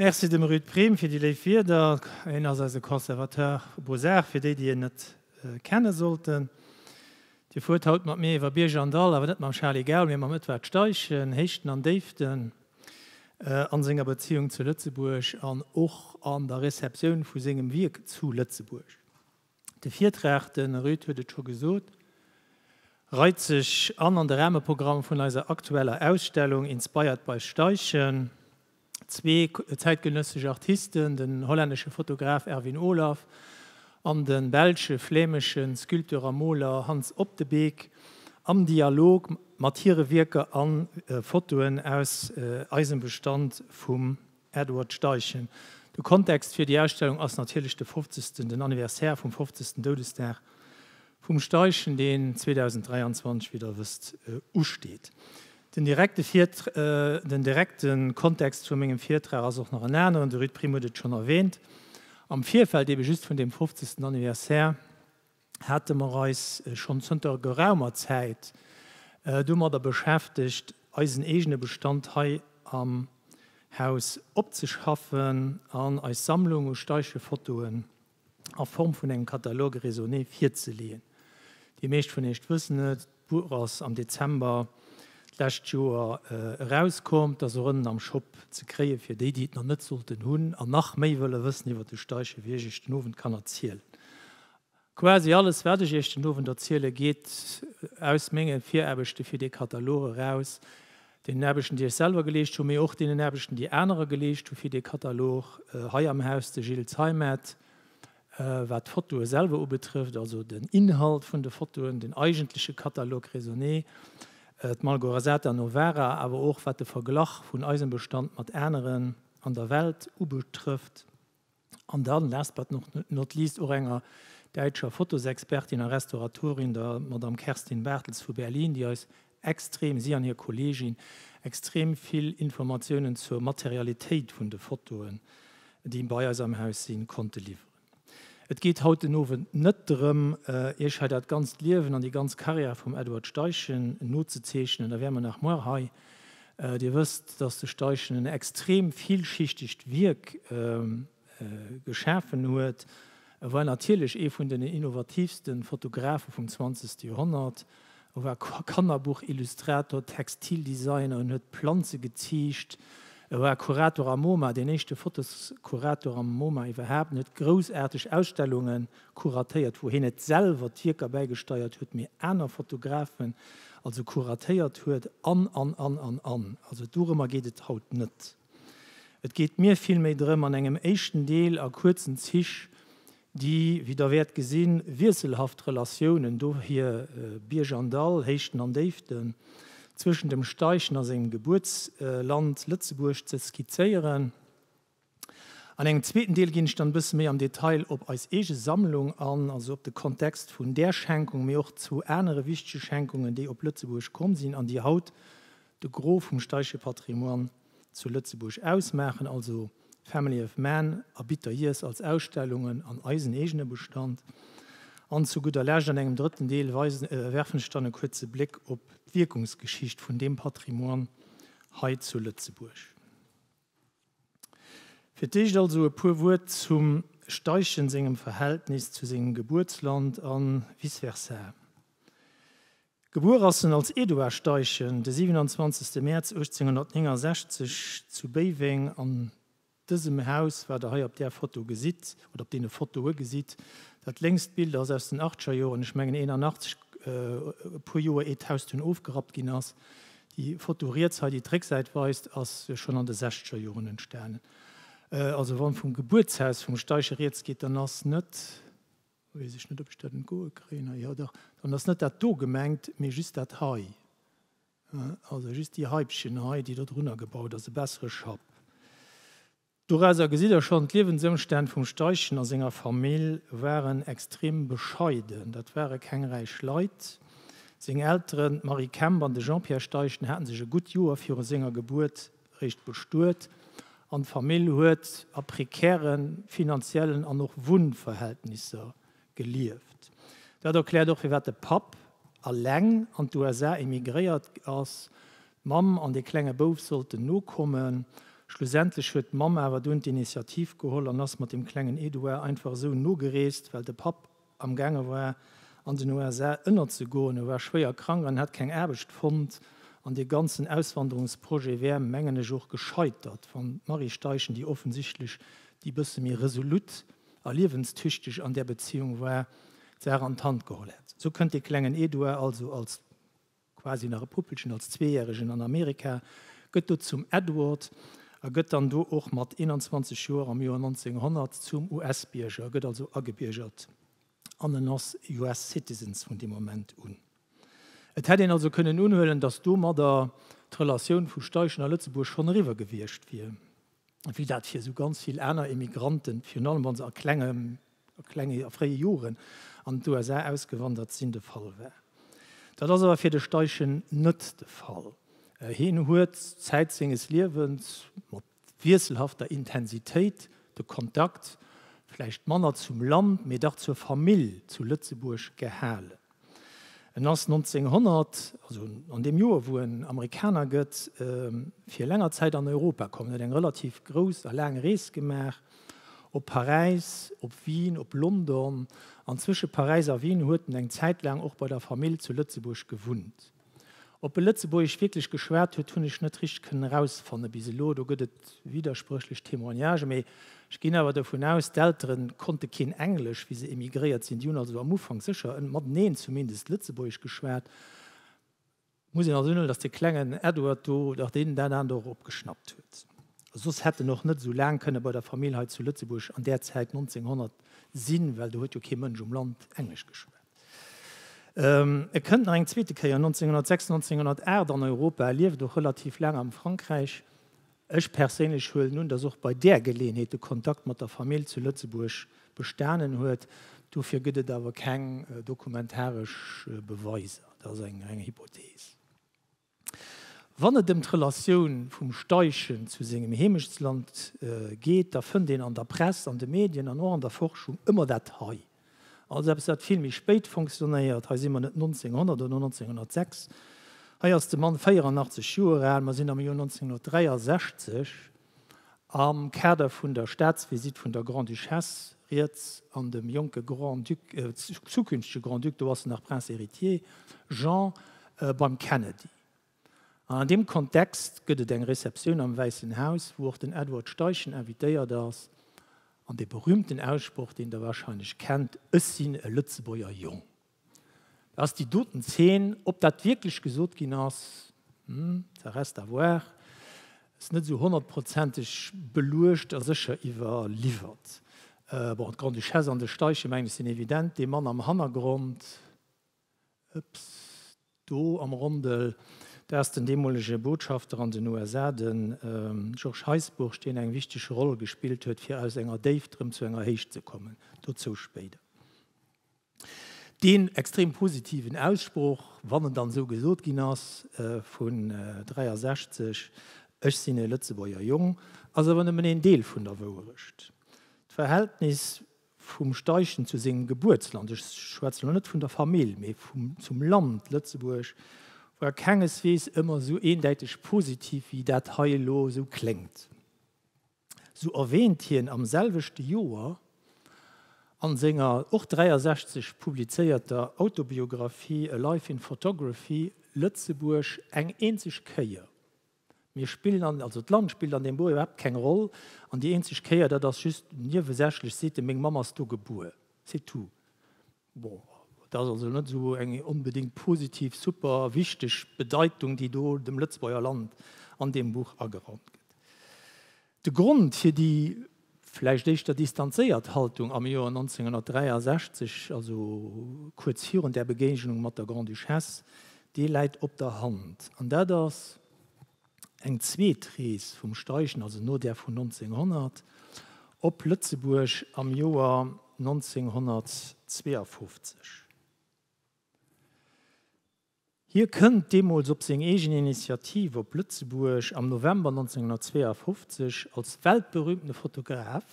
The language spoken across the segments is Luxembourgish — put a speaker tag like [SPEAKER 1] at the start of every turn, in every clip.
[SPEAKER 1] Merci dem Ruud Priem fir déi léif Wierder. Hien ass eise Conservateur Beaux-Arts, fir déi, déi hien net kenne sollten. Dir fuert haut mat mir iwwer Bierg an Dall, awer net mam Charly Gaul, mee mam Edward Steichen. Héichten an Déiften a senger Beziung zu Lëtzebuerg an och an der Receptioun vu sengem Wierk zu Lëtzebuerg. De Virtrag, de Ruud huet et scho gesot, reit sech an an de Rahmeprogramm vun eiser aktueller Ausstellung Inspired by Steichen. Zwee zäitgenëssesch Artisten, den hollännesche Fotograf Erwin Olaf an de belsche, flämesche Sculpteur a Moler Hans Op de Beek, am Dialog mat hire Wierker a Fotoen aus eisem Bestand vum. Edward Steichen, De Kontext fir déi Ausstellung ass natierlech de fofzegsten, den Anniversaire vum fofzegsten Doudesdag vum Steichen, deen 2023, wéi Der wësst, usteet. Den direkte Virt, den direkte Kontext vu mengem Virtrag ass och nach en aneren, de Ruud Priem huet et schonn erwähnt am Virfeld, eebe just vun deem fofzegsten Anniversaire, hate mer eis schonn zënter geraumer Zäit domadder beschäftegt, eisen eegene Bestand hei am Haus opzeschaffen an eis Sammlung u Steichefotoen a Form vun engem Catalogue raisonné virzeleeën. Déi meescht vun Iech wëssen et, D'Buch ass am Dezember d'lescht Joer erauskomm. T'ass och ënnen am Shop ze kréien, fir déi, déi et nach net sollten hunn an nach méi wëlle wëssen iwwer de Steichen, wéi ech Iech den Owend kann erzielen. Quasi alles, wat ech Iech den Owend erzielen, geet aus menge Viraarbechte fir dee Katalog eraus, deenen Aarbechten, déi ech selwer geleescht hunn, mee och deenen Aarbechten, déi anerer geleescht hunn, fir dee Katalog hei am Haus, de Gilles Zeimet, Wat d'Fotoe selwer ubetrëfft, also den Inhalt vun de Fotoen, den eigentleche Catalogue raisonné, d'Malgorzata Novara, awer och wat de Verglach vun eisem Bestand mat aneren an der Welt ubetrëfft, an dann, last but not least, och enger däitscher Fotosexpertin a Restauratorin, der Madame Kerstin Bartels vu Berlin, déi eis Extrem, si an hir Kolleegin, extrem vill Informatiounen zur Materialitéit vun de Fotoen, déi bei eis am Haus sinn, konnte liwweren. Et geet haut den Owend net drëm, Iech hei dat ganzt Liewen an déi ganz Karriär vum Edward Steichen nozezeechnen, da wäre mer nach muer hei. Dir wësst, dass de Steichen en extrem villschichtegt Wierk geschafen huet. E war natierlech ee vun den innovatiivste Fotografe vum zwanzegste Joerhonnert. E war Kannerbuch-Illustrator, Textildesigner, en huet Planze geziicht, e war Kurator am Moma, deen éischte Fotoskurator am Moma iwwerhaapt, en huet groussaarteg Ausstellunge kuratéiert, wou hien net selwer d'Wierker bäigesteiert huet, mee aner Fotografen also kuratéiert huet, an, an, an, an, an. Also dorëmmer geet et haut net. Et geet mir villméi drëm, an engem éischten Deel a kuerzen Zich déi, wéi Der wäert gesinn, wiesselhaft Relatiounen, dohier Bierg an Dall, Héichten an Déiften, zwëschen dem Steichen a sengem Gebuertsland Lëtzebuerg ze skizzéieren. An engem zweeten Deel ginn ech dann e bësse méi am Detail op eis eege Sammlung an, also op de Kontext vun där Schenkung, mee och zu anere wichtege Schenkungen, déi op Lëtzebuerg komm sinn an déi haut de Gros vum Steiche Patrimoine zu Lëtzebuerg ausmaachen, also Family of Man a Bitter Years als Ausstellungen an eisen eegene Bestand. An zu gudder Lescht an engem drëtten Deel weisen, werfen ech dann e kuerze Bléck op d'Wierkungsgeschicht vun deem Patrimoine hei zu Lëtzebuerg. Fir d'éischt also e puer Wuert zum Steiche sengem Verhältnis zu sengem Gebuertsland a vice versa. Gebuer ass en als Eduard Steichen de 27 Mäerz 1869 zu Béiweng. An dësem Haus, wat der hei op där Foto gesitt, oder op deene Fotoe gesitt, dat lénkst Bild ass aus den Achtgerjoren, ech mengen 81, e puer Joer ier d'Haus dunn ofgerappt ginn ass. Déi Foto riets hei, déi d'Récksäit weist, ass schonn an de Sechzegerjoren entstanen. Also wann vum Gebuertshaus vum Steichen riets geet, dann ass net. Weess ech net, ob ech dat entgoe kréien hei. Jo dach, dann ass net dat do gemengt, mee just dat hei. Also just déi Haipchen hei, déi do drunner gebaut ass, e bessere Schapp. Dorauser gesitt Der schonn, d'Liewensëmstänn vum Steichen a senger Famill waren extrem bescheiden. Dat ware keng räich Leit. Seng Elteren, d'Marie Kemp an de Jean-Pierre Steichen, hate sech e gutt Joer viru senger Gebuert réischt bestuet an d'Famill huet a prekäre finanziellen an och Wunnverhältnisser gelieft. Dat erkläert och, firwat de Papp eleng an d'USA emigréiert ass, d'Mamm an dee klenge Bouf sollten nokommen. Schlussendlech huet d'Mamm awer dunn d'Initiativ geholl an ass mat dem klengen Édouard einfach esou nogereest, well de Papp amgaange war an den USA ënnerzegoen. E war schwéier krank an hat keng Aarbecht fonnt. An dee ganzen Auswanderungsprojet wär, mengen ech, och gescheitert, wann d'Marie Steichen, déi offensichtlech déi bësse méi resolut a liewenstüchteg an där Beziéung war, d'Saach an d'Hand geholl hätt. Esou kënnt dee klengen Eduard also als. quasi nach e Puppelchen, als Zweejäregen an Amerika, gëtt do zum Edward a gëtt dann do och mat 21 Joer am Joer 1900 zum US-Bierger, gëtt also agebiergert an en ass US citizen vun deem Moment un. Et hätt een also kënnen unhuelen, datt domadder d'Relatioun vu Steichen a Lëtzebuerg schonn eriwwer gewiescht wier. wéi dat fir esou ganz vill aner Emigranten, virun allem wa se a klengem, a klenge, a fréie Joren an d'USA ausgewandert sinn, de Fall war. Dat ass awer fir de Steichen net de Fall. Hien huet Zäit senges Liewens mat wiesselhafter Intensitéit de Kontakt, vläicht manner zum Land, mee dach zur Famill zu Lëtzebuerg gehalen. En ass 1900, also an deem Joer, wou en Amerikaner gëtt, fir länger Zäit an Europa komm. En huet eng relativ grouss a laang Rees gemaach, op Paräis, op Wien, op London. An zwësche Paräis a Wien huet en eng Zäit laang och bei der Famill zu Lëtzebuerg gewunnt. Op e Lëtzebuergesch wierklech geschwat huet, hunn ech net richteg kënnen erausfanne bis elo. Do gëtt et widderspréchlech Témoignagen. Mee ech ginn awer dovun aus, d'Eltere konnte keen Englesch, wéi se emigréiert sinn. Déi hunn also am Ufank sécher mateneen zumindest Lëtzebuergesch geschwat. Muss een also unhuelen, datt de klengen Edward do, datt deen dat aner do och opgeschnappt huet. Soss hätt en och net esou laang kënne bei der Famill hei zu Lëtzebuerg an där Zäit, 1900, sinn, well do huet jo kee Mënsch um Land Englesch geschwat. E kënnt nach eng zweete Kéier, 1906, 1908, an Europa, lieft och relativ laang am Frankräich. Ech perséinlech huelen un, datt och bei där Geleeënheet de Kontakt mat der Famill zu Lëtzebuerg bestanen huet. Dofir gëtt et awer keng dokumentaresch Beweiser. Dat ass eng reng Hypothees. Wann et ëm d'Relatioun vum Steichen zu sengem Heemechtsland geet, da fënnt een an der Press, an de Medien an och an der Forschung ëmmer dat hei. Also eppes wat vill méi spéit fonctionnéiert. Hei si mer net 1900 oder 1906, hei ass de Mann 84 Joer al, mer sinn am Joer 1963. Am Kader vun der Staatsvisitt vun der Grande-Duchesse riets an dem jonke Grand-Duc, zukünftege Grand-Duc, do ass en nach Prince héritier, Jean beim Kennedy. An an deem Kontext gëtt et eng Receptioun am Wäissen Haus, wou och den Edward Steichen invitéiert ass, an dee berühmten Aussproch, deen Der wahrscheinlech kennt, Ech sinn e Lëtzebuerger Jong. Da ass déi doten Zeen, ob dat wierklech gesot ginn ass, hm, ça reste à voir, ass net esou honnertprozenteg beluecht a sécher iwwerliwwert. Bon, d'Grande-Duchesse an de Steiche mengen ech sinn evident. Dee Mann am Hannergrond, ups, do am Rondel, dat ass den deemolege Botschafter an den USA, de Georges Heisbourg, deen eng wichteg Roll gespillt huet, fir aus enger Déift erëm zu enger Héicht ze kommen. Dozou spéider. Deen extrem positiven Aussproch, wann en dann esou gesot ginn ass, vun 63, ech sinn e Lëtzebuerger Jong, ass awer nëmmen een Deel vun der Wouerecht. D'Verhältnis vum Steichen zu sengem Gebuertsland, ech schwätzen elo net vun der Famill, mee zum Land Lëtzebuerg, war kengeswees ëmmer esou eendäiteg positiv, wéi dat hei elo esou kléngt. Sou erwäänt hien am selwechte Joer a senger och 63 publizéierter Autobiographie A Life in Photography Lëtzebuerg eng eenzeg Kéier. Mir spillen an, also d'Land spillt an deem Buch iwwerhaapt keng Roll, an déi eenzeg Kéier, dat ass just niewesächlech, seet e, meng Mamm ass do gebuer, c'est tout. Bon, dat ass also net esou eng onbedéngt positiv, super wichteg Bedeitung, déi do dem Lëtzebuerger Land an deem Buch ageraumt gëtt. De Grond fir déi vläicht éischter distanzéiert Haltung am Joer 1963, also kuerz virun där Begéignung mat der Grande-Duchesse, dee läit op der Hand, an dat ass, Eng zweet Rees vum Steichen, also no där vun 1900, op Lëtzebuerg am Joer 1952. Hie kënnt deemools op seng eegen Initiativ op Lëtzebuerg am November 1952 als weltberüümte Fotograf.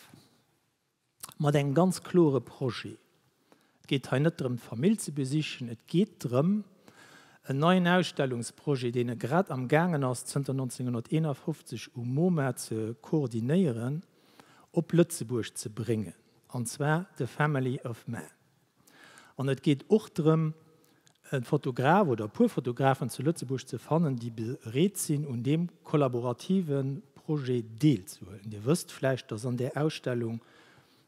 [SPEAKER 1] mat engem ganz klore Projet. Et geet hei net drëm, d'Famill ze besichen, et geet drëm, en neien Ausstellungsprojet, deen e grad am gaangen ass zënter 1951 um MoMa ze koordinéieren, op Lëtzebuerg ze bréngen, an zwar de Family of Man. An et geet och drëm, e Fotograf oder e puer Fotografen zu Lëtzebuerg ze fannen, déi bereet sinn, un deem kollaborative Projet deelzehuelen. Dir wësst vläicht, dass an där Ausstellung,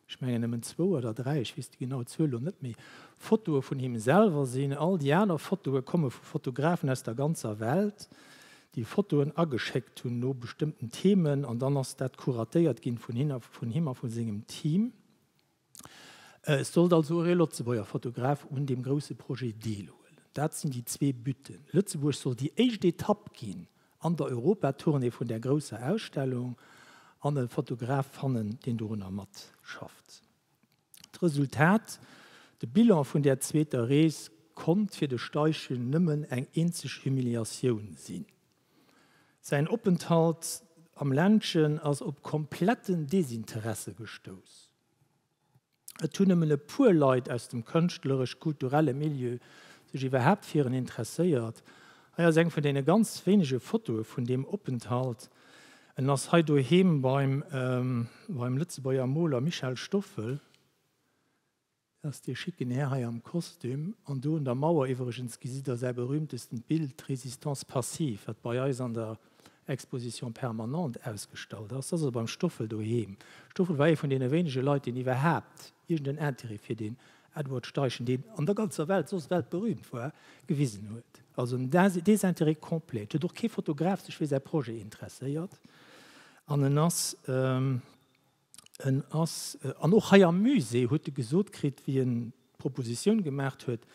[SPEAKER 1] ech mengen nëmmen zwou oder dräi, ech weess déi genau Zuel elo net méi, Fotoe vun him selwer sinn. All déi aner Fotoe komme vu Fotografen aus der ganzer Welt, déi Fotoen ageschéckt hunn no bestëmmten Themen, an dann ass dat kuratéiert ginn vun him a vu sengem Team. Et sollt also och ee Lëtzebuerger Fotograf un deem grousse Projet deelhuelen. Dat sinn déi zwee Butten. Lëtzebuerg soll déi éischt Etapp ginn an der Europa-Tournée vun där grousser Ausstellung an e Fotograf fannen, deen dorunner matschafft. D'Resultat, de Bilan vun där zweeter Rees, konnt fir de Steichen nëmmen eng eenzeg Humiliatioun sinn. Säin Openthalt am Ländchen ass op kompletten Desinteresse gestouss. Et hunn nëmmen e puer Leit aus dem kënschtleresch-kulturelle Milieu sech iwwerhaapt fir en interesséiert. Hei ass eng vun deene ganz wéinege Fotoe vun deem Openthalt. En ass hei doheem beim Lëtzebuerger Moler Michel Stoffel. Dat ass dee schicken Här hei am Kostüm. An do un der Mauer iwwregens gesitt Der säi berühmtestent Bild, d'Résistance passive, wat bei eis an der Exposition permanente ausgestallt ass. Dat ass also beim Stoffel doheem. Stoffel war ee vun deene wéinege Leit, deen iwwerhaapt iergend en Intérêt fir deen Edward Steichen, deen an der ganzer Welt soss weltberühmt war, gewisen huet. Also en Désintérêt complet. Et huet och kee Fotograf sech fir säi Projet interesséiert. An en ass. En ass, an och hei am Musée huet e gesot kritt, wéi en d'Propositioun gemaacht huet,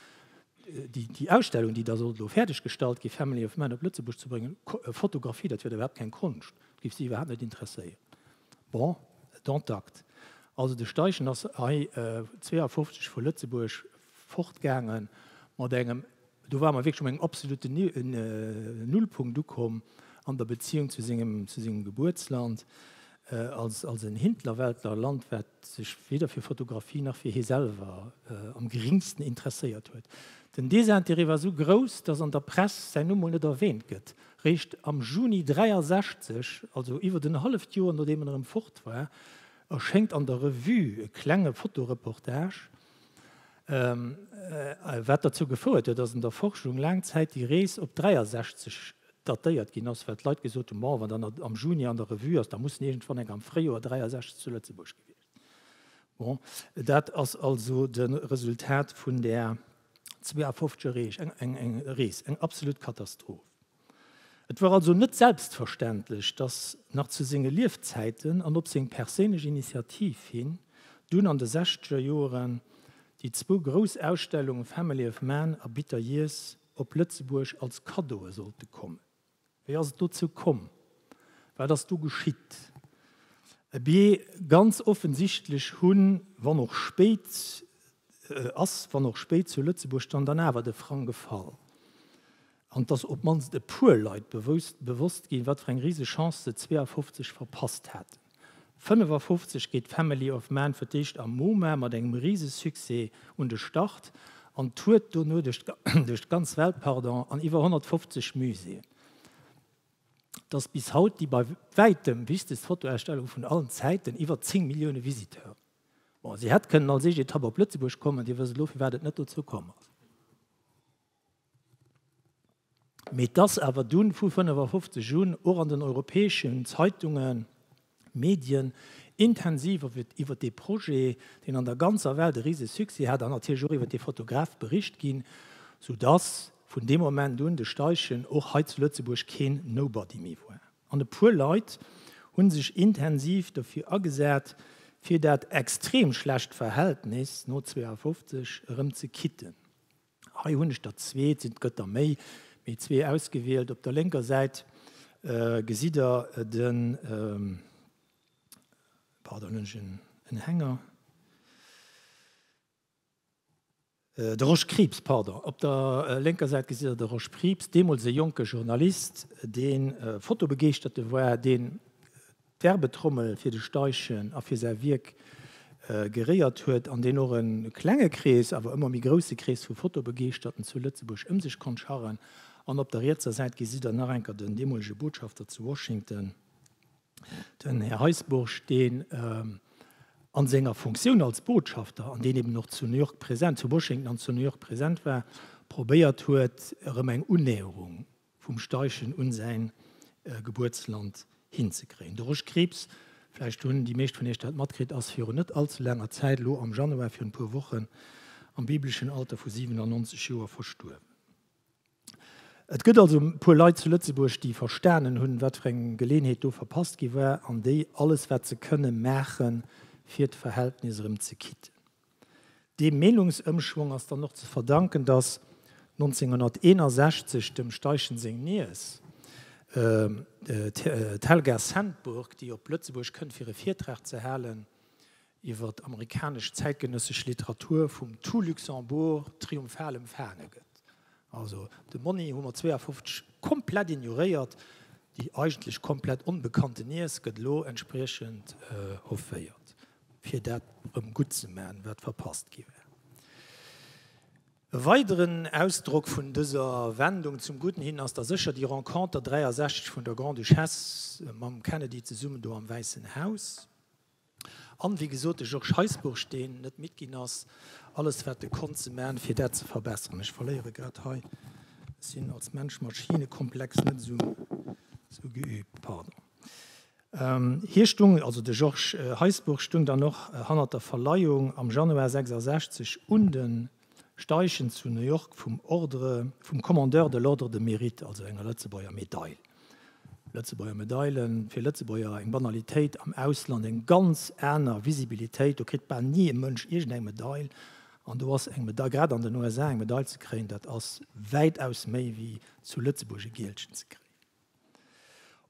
[SPEAKER 1] déi, déi Ausstellung, déi da sollt elo fäerdeg gestallt ginn, Family of Man op Lëtzebuerg ze bréngen, Fotografie, dat wier da iwwerhaapt keng Konscht, et géif si iwwerhaapt net interesséieren. Bon, dont acte. Also de Steichen ass hei 52 vu Lëtzebuerg fortgaangen mat engem, Do ware mer wierklech op engem absoluten Nullpunkt ukomm an der Beziéung zu sengem, zu sengem Gebuertsland, als, als en Hinterwäldler Land, wat sech weder fir Fotografie nach fir hie selwer am geringsten interesséiert huet. Den Désintérêt war esou grouss, datt an der Press säin Numm mol net erwäänt gëtt. Réischt am Juni 63, also iwwert en halleft Joer nodeem en erëm fort war, erschéngt an der Revue e klenge Fotoreportage, Wat derzou gefouert huet, datt an der Forschung laang Zäit déi Rees op 63 datéiert ginn ass, well d'Leit gesot hunn, Bon, wann der am Juni an der Revue ass, da muss iergendwann eng am Fréijoer 63 zu Lëtzebuerg gewiescht sinn. Bon, dat ass also de Resultat vun där 52 er Rees, eng absolut Katastroph. Et war also net selbstverständlech, datt nach zu senge Liefzäiten an op seng perséinlech Initiativ hin dunn an de sechzeger Joeren déi zwou grouss Ausstellunge Family of Man a Bitter Years op Lëtzebuerg als Kaddoe sollte kommen. Wéi ass et dozou komm? Wat ass do geschitt? Abee, ganz offensichtlech hu, wann och spéit, ass, wann och spéit, zu Lëtzebuerg dann dann awer de Frang gefall. An et ass op d'mannst e puer Leit bewosst ginn, wat fir eng riseg Chance se 52 verpasst haten. 55 geet Family of Man fir d'éischt am MoMa mat engem rise Succès un de Start an tourt dono duerch d'ganz Welt an iwwer 150 Muséeën. Et ass bis haut déi bei wäitem wichtegst Fotoausstellung vun allen Zäiten, iwwer 10 Millioune Visiteuren. Bon, si hätt kënnen als éischt Etapp op Lëtzebuerg kommen, Dir wësst elo, firwat et net dozou komm ass. Mee dass awer dunn vu 55 un och an den europäeschen Zeitungen, Medien intensiv iwwert dee Projet, deen an der ganzer Welt e rise Succès hat, an natierlech och iwwert dee Fotograf bericht ginn, sou dass vun deem Moment un de Steichen och hei zu Lëtzebuerg keen Nobody méi war. An e puer Leit hu sech intensiv dofir agesat, fir dat extrem schlecht Verhältnis no 52 erëm ze kitten. Hei hunn ech der zwee, et sinn gëtt der méi, mee zwee ausgewielt. Op der lénker Säit gesitt der den, pardon, hunn ech en Hänger, de Rosch Krieps, pardon, op der lénker Säit gesitt der de Rosch Krieps, deemools e jonke Journalist, dee fotobegeeschterte war, deen Werbetrommel fir de Steichen a fir säi Wierk geréiert huet, an deen och e klenge Krees, awer ëmmer méi grousse Krees vu Fotobegeeschterten zu Lëtzebuerg ëm sech konnt scharren. An op der rietser Säit gesitt der nach enker den deemolege Botschafter zu Washington, den Här Heisbourg, deen a senger Funktioun als Botschafter, an deen eben och zu New York present, zu Washington an zu New York present war, probéiert huet erëm eng Unnäherung vum Steichen un säin Gebuertsland hinzekréien. De Rosch Krieps, vläicht hunn déi meescht vun iech dat matkritt, ass virun net all ze laanger Zäit, elo am Januar, virun e puer Wochen, am bibleschen Alter vu 97 Joer verstuerwen. Et gëtt also e puer Leit zu Lëtzebuerg, déi verstanen hunn, wat fir eng Geleeënheet do verpasst gi war, an déi alles, wat se kënnen, maachen, fir d'Verhältnis erëm ze kitten. Deem Meenungsëmschwong ass dann och ze verdanken, datt 1961 dem Steichen seng Niess, d'Helga Sandburg, déi op Lëtzebuerg kënnt fir e Virtrag ze halen iwwer d'amerikanesch zäitgenëssesch Literatur, vum Tout Luxembourg triomphal empfaange gëtt. Also de Monni hu mer 52 komplett ignoréiert. Déi eigentlech komplett onbekannte Niess gëtt elo entspriechend offéiert. fir dat erëm gutt ze maachen, wat verpasst gi war. E weideren Ausdrock vun dëser Wendung zum Gudden hin ass da sécher déi Renconter 63 vun der Grande-Duchesse mam Kennedy zesummen do am Wäissen Haus. An, wéi gesot, de Georges Heisbourg, deen net midd ginn ass, alles wat e konnt ze maachen, fir dat ze verbesseren. Ech verléiere grad hei, ech sinn als Mensch-Maschine-Komplex net esou geübt, pardon. Hie stung, also de Georges Heisbourg, stung dann och hannert der Verleihung am Januar 66 un de Steichen zu New York vum Ordre vum Commandeur de l'Ordre de Mérite, also enger Lëtzebuerger Medail. Lëtzebuerger Medailen, fir Lëtzebuerger eng Banalitéit, am Ausland eng ganz aner Visibilitéit. Do kritt bal ni e Mënsch iergendeng Medail. An do ass eng Medail, grad an den USA eng Medail ze kréien, dat ass wäitaus méi wéi zu Lëtzebuerg e Gielchen ze kréien.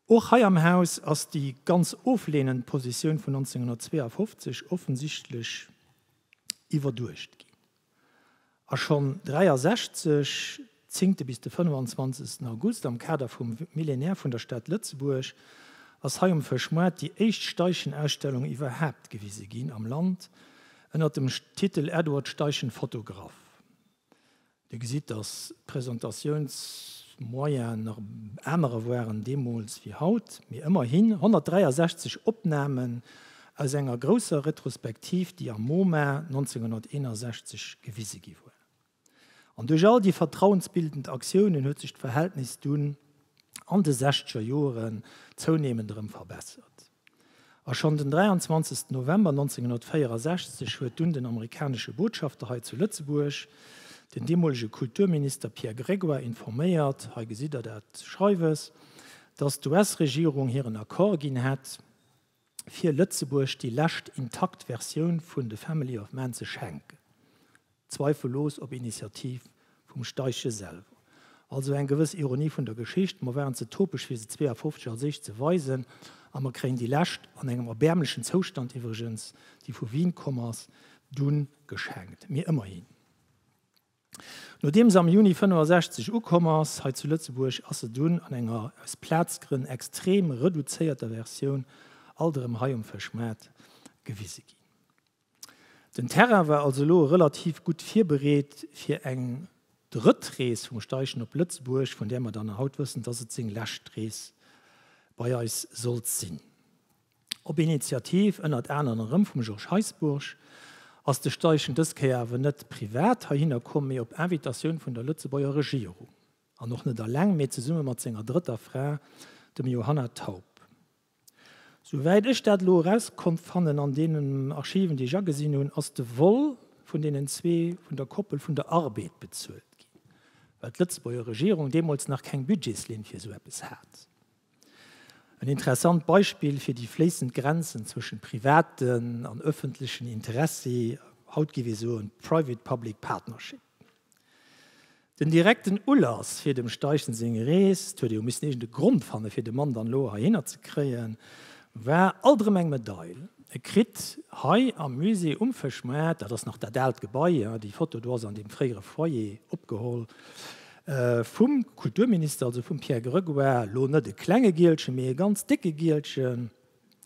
[SPEAKER 1] Och hei am Haus ass déi ganz oflehnend Positioun vun 1952 offensichtlech iwwerduecht ginn a schonn 1963, zéngte bis de 25. August, am Kader vum Millénaire vun der Stad Lëtzebuerg, ass hei um Fëschmoart déi éischt Steichenausstellung iwwerhaapt gewise ginn am Land, ënnert dem Titel Edward Steichen Photograph. Dir gesitt, dass d'Presentatiounsmoyene nach anerer waren deemools wéi haut, mee ëmmerhin 163 Opnamen aus enger grousser Retrospektiv, déi am MoMa 1961 gewise gi war. An duerch all déi vertrauensbildend Aktiounen huet sech d'Verhältnis dunn an de sechzeger Joren zouneemend erëm verbessert. A schonn den 23 November 1964 huet dunn den amerikanesche Botschafter hei zu Lëtzebuerg den deemolege Kulturminister Pierre Grégoire informéiert, hei gesitt Der dat Schreiwes, datt d'US-Regierung hiren Accord ginn hätt, fir Lëtzebuerg déi lescht intakt Versioun vun The Family of Man ze schenken. zweifellos op Initiativ vum Steiche selwer. Also eng gewëss Ironie vun der Geschicht, mer waren ze topeg fir se 52 als éischt ze weisen, a mer kréien déi lescht, an engem erbäermlechen Zoustand iwwregens, déi vu Wien komm ass, dunn geschenkt. Mee ëmmerhi. Nodeem se am Juni 65 ukomm ass hei zu Lëtzebuerg, ass se dunn an enger, aus Plazgrënn, extrem reduzéierter Versioun alt erëm hei um Fëschmaart gewise ginn. Den Terrain war also elo relativ gutt virbereet fir eng drëtt Rees vum Steichen op Lëtzebuerg, vun där mer dann haut wëssen, dass et seng lescht Rees bei eis sollt sinn. Op Initiativ ënnert aneren erëm vum Georges Heisbourg ass de Steichen dës Kéier awer net privat heihinner komm, mee op Invitatioun vun der Lëtzebuerger Regierung. An och net alleng, mee zesumme mat senger drëtter Fra, dem Johanna Taup. Souwäit ech dat elo eraus konnt fannen an deenen Archiven, déi ech agesinn hunn, ass de Vol vun deenen zwee vun der Koppel vun der Arbed bezuelt ginn, well d'Lëtzebuerger Regierung deemools nach keng Budgetslinn fir esou eppes hat. En interessant Beispill fir déi fléissend Grenzen zwëschen privaten an ëffentlechen Interessi, haut gi wéi soen, private-public partnership. Den direkten Ulass fir dem Steichen seng Rees, d'huet eo missen iergend e Grond fanne fir de Mann dann elo heihinner ze kréien, war alt erëm eng Medail. E kritt hei am Musée um Fëschmaart, dat ass nach dat aalt Gebai, jo, déi Foto do ass an deem fréiere Foyer opgeholl, vum Kulturminister, also vum Pierre Grégoire, elo net e klenge Gielchen, mee e ganz décke Gielchen.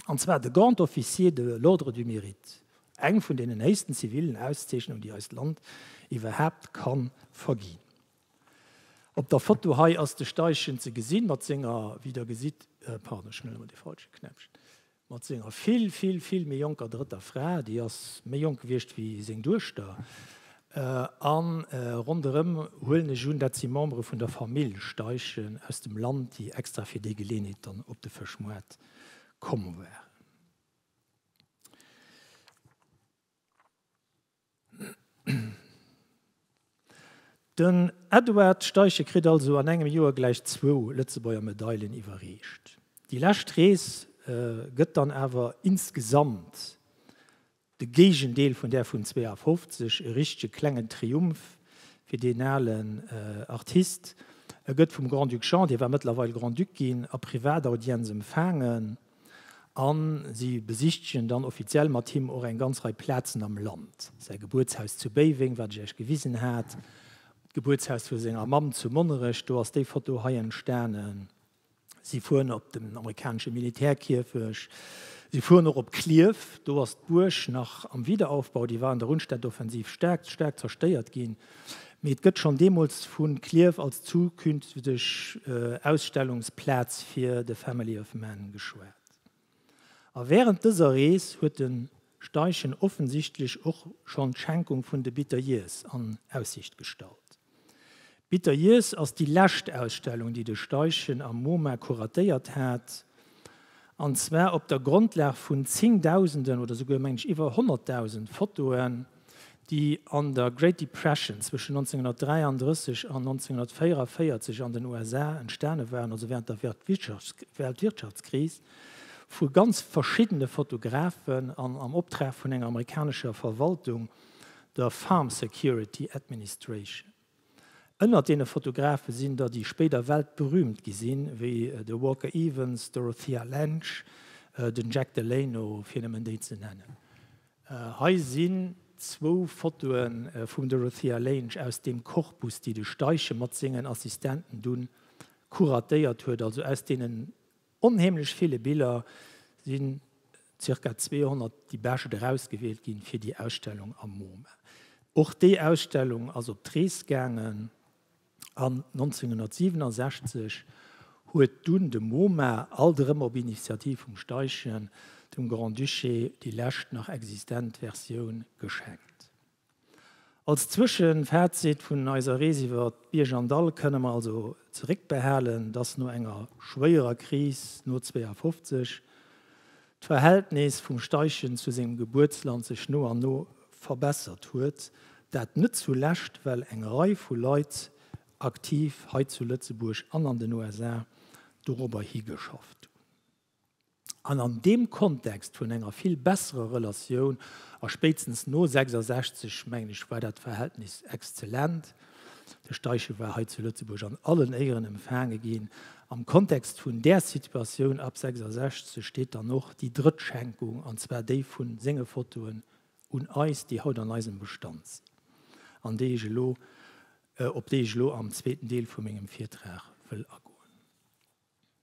[SPEAKER 1] an zwar de Grand Officier de l'Ordre du Mérite, eng vun deenen héichsten zivilen Auszeechnungen, déi eist Land iwwerhaapt ka verginn. Op der Foto hei ass de Steichen ze gesinn mat senger, wéi Der gesitt, pardon, ech huelen emol dee falschen Knäppchen, mat senger vill, vill, vill méi jonker drëtter Fra, déi ass méi jonk gewiescht wéi seng Duechter, A ronderëm huelen ech un, dat si Membere vun der Famill Steichen aus dem Land, déi extra fir déi Geleenheet dann op de Fëschmoart komm waren. Den Edward Steichen kritt also an engem Joer gläich zwou Lëtzebuerger Medailen iwwerreecht. Déi lescht Rees gëtt dann awer insgesamt De Géigendeel vun där vun 52, e richtege klengen Triumph fir deen alen Artist. E gëtt vum Grand-Duc Jean, dee war mëttlerweil Grand-Duc ginn, a Privataudienz empfaangen a si besichtegen dann offiziell mat him och eng ganz Rei Plazen am Land, säi Gebuertshaus zu Béiweng, wat ech Iech gewisen hat, d'Gebuertshaus vu senger Mamm zu Monnerech, do ass déi Foto hei entstanen. Si fueren op den amerikanesche Militärkierfecht. Si fueren och op Klierf. Do ass d'Buerg nach am Wiederaufbau. Déi war an der Rundstedtoffensiv staark, staark zerstéiert ginn. Mee et gëtt schonn deemools vu Klierf als zukünfteg Ausstellungsplaz fir de Family of Man geschwat. A während dëser Rees huet de Steichen offensichtlech och schonn d'Schenkung vun de Bitter Years an Aussicht gestallt. D'Bitter Years ass déi lescht Ausstellung, déi de Steichen am Moma kuratéiert hat, an zwar op der Grondlag vun zéngdausenden oder souguer, mengen ech, iwwer honnertdausend Fotoen, déi an der Great Depression zwëschen 1933 an 1944 an den USA entstane waren, also während der Weltwirtschaftskris, vu ganz verschiddene Fotografen an am Optrag vun enger amerikanescher Verwaltung, der Farm Security Administration. Ënnert deene Fotografe sinn der, déi spéider weltberüümt gi sinn, wéi de Walker Evans, d'Dorothea Lange, den Jack Delano, fir nëmmen déi ze nennen. Hei sinn zwou Fotoe vum Dorothea Lange aus deem Corpus, déi de Steichen mat sengen Assistenten dunn kuratéiert huet, also aus deenen Onheemlech ville Biller sinn, zirka 200, déi bescht erausgewielt ginn fir déi Ausstellung am Moma. Och déi Ausstellung ass op d'Rees gaangen an 1967 huet dunn de Moma, alt erëm op Initiativ vum Steichen, dem Grand-Duché déi lescht nach existent Versioun geschenkt. Als Zwëschenfazit vun eiser Rees iwwer Bierg an Dall kënne mer also zeréckbehalen, dass no enger schwéierer Kris no 52 d'Verhältnis vum Steichen zu sengem Gebuertsland sech no an no verbessert huet, dat net zu Lescht well eng Rei vu Leit aktiv hei zu Lëtzebuerg an an den USA dorobber higeschafft hunn. An an deem Kontext vun enger vill besserer Relatioun, a spéitstens no 66, mengen ech, war dat Verhältnis exzellent, de Steiche war hei zu Lëtzebuerg an allen Éieren empfaange ginn, am Kontext vun där Situatioun ab 66 steet dann och déi drëtt Schenkung, an zwar déi vu senge Fotoen un eis, déi haut an eisem Bestand sinn an déi ech elo, op déi ech elo am zweeten Deel vu mengem Virtrag wëll agoen.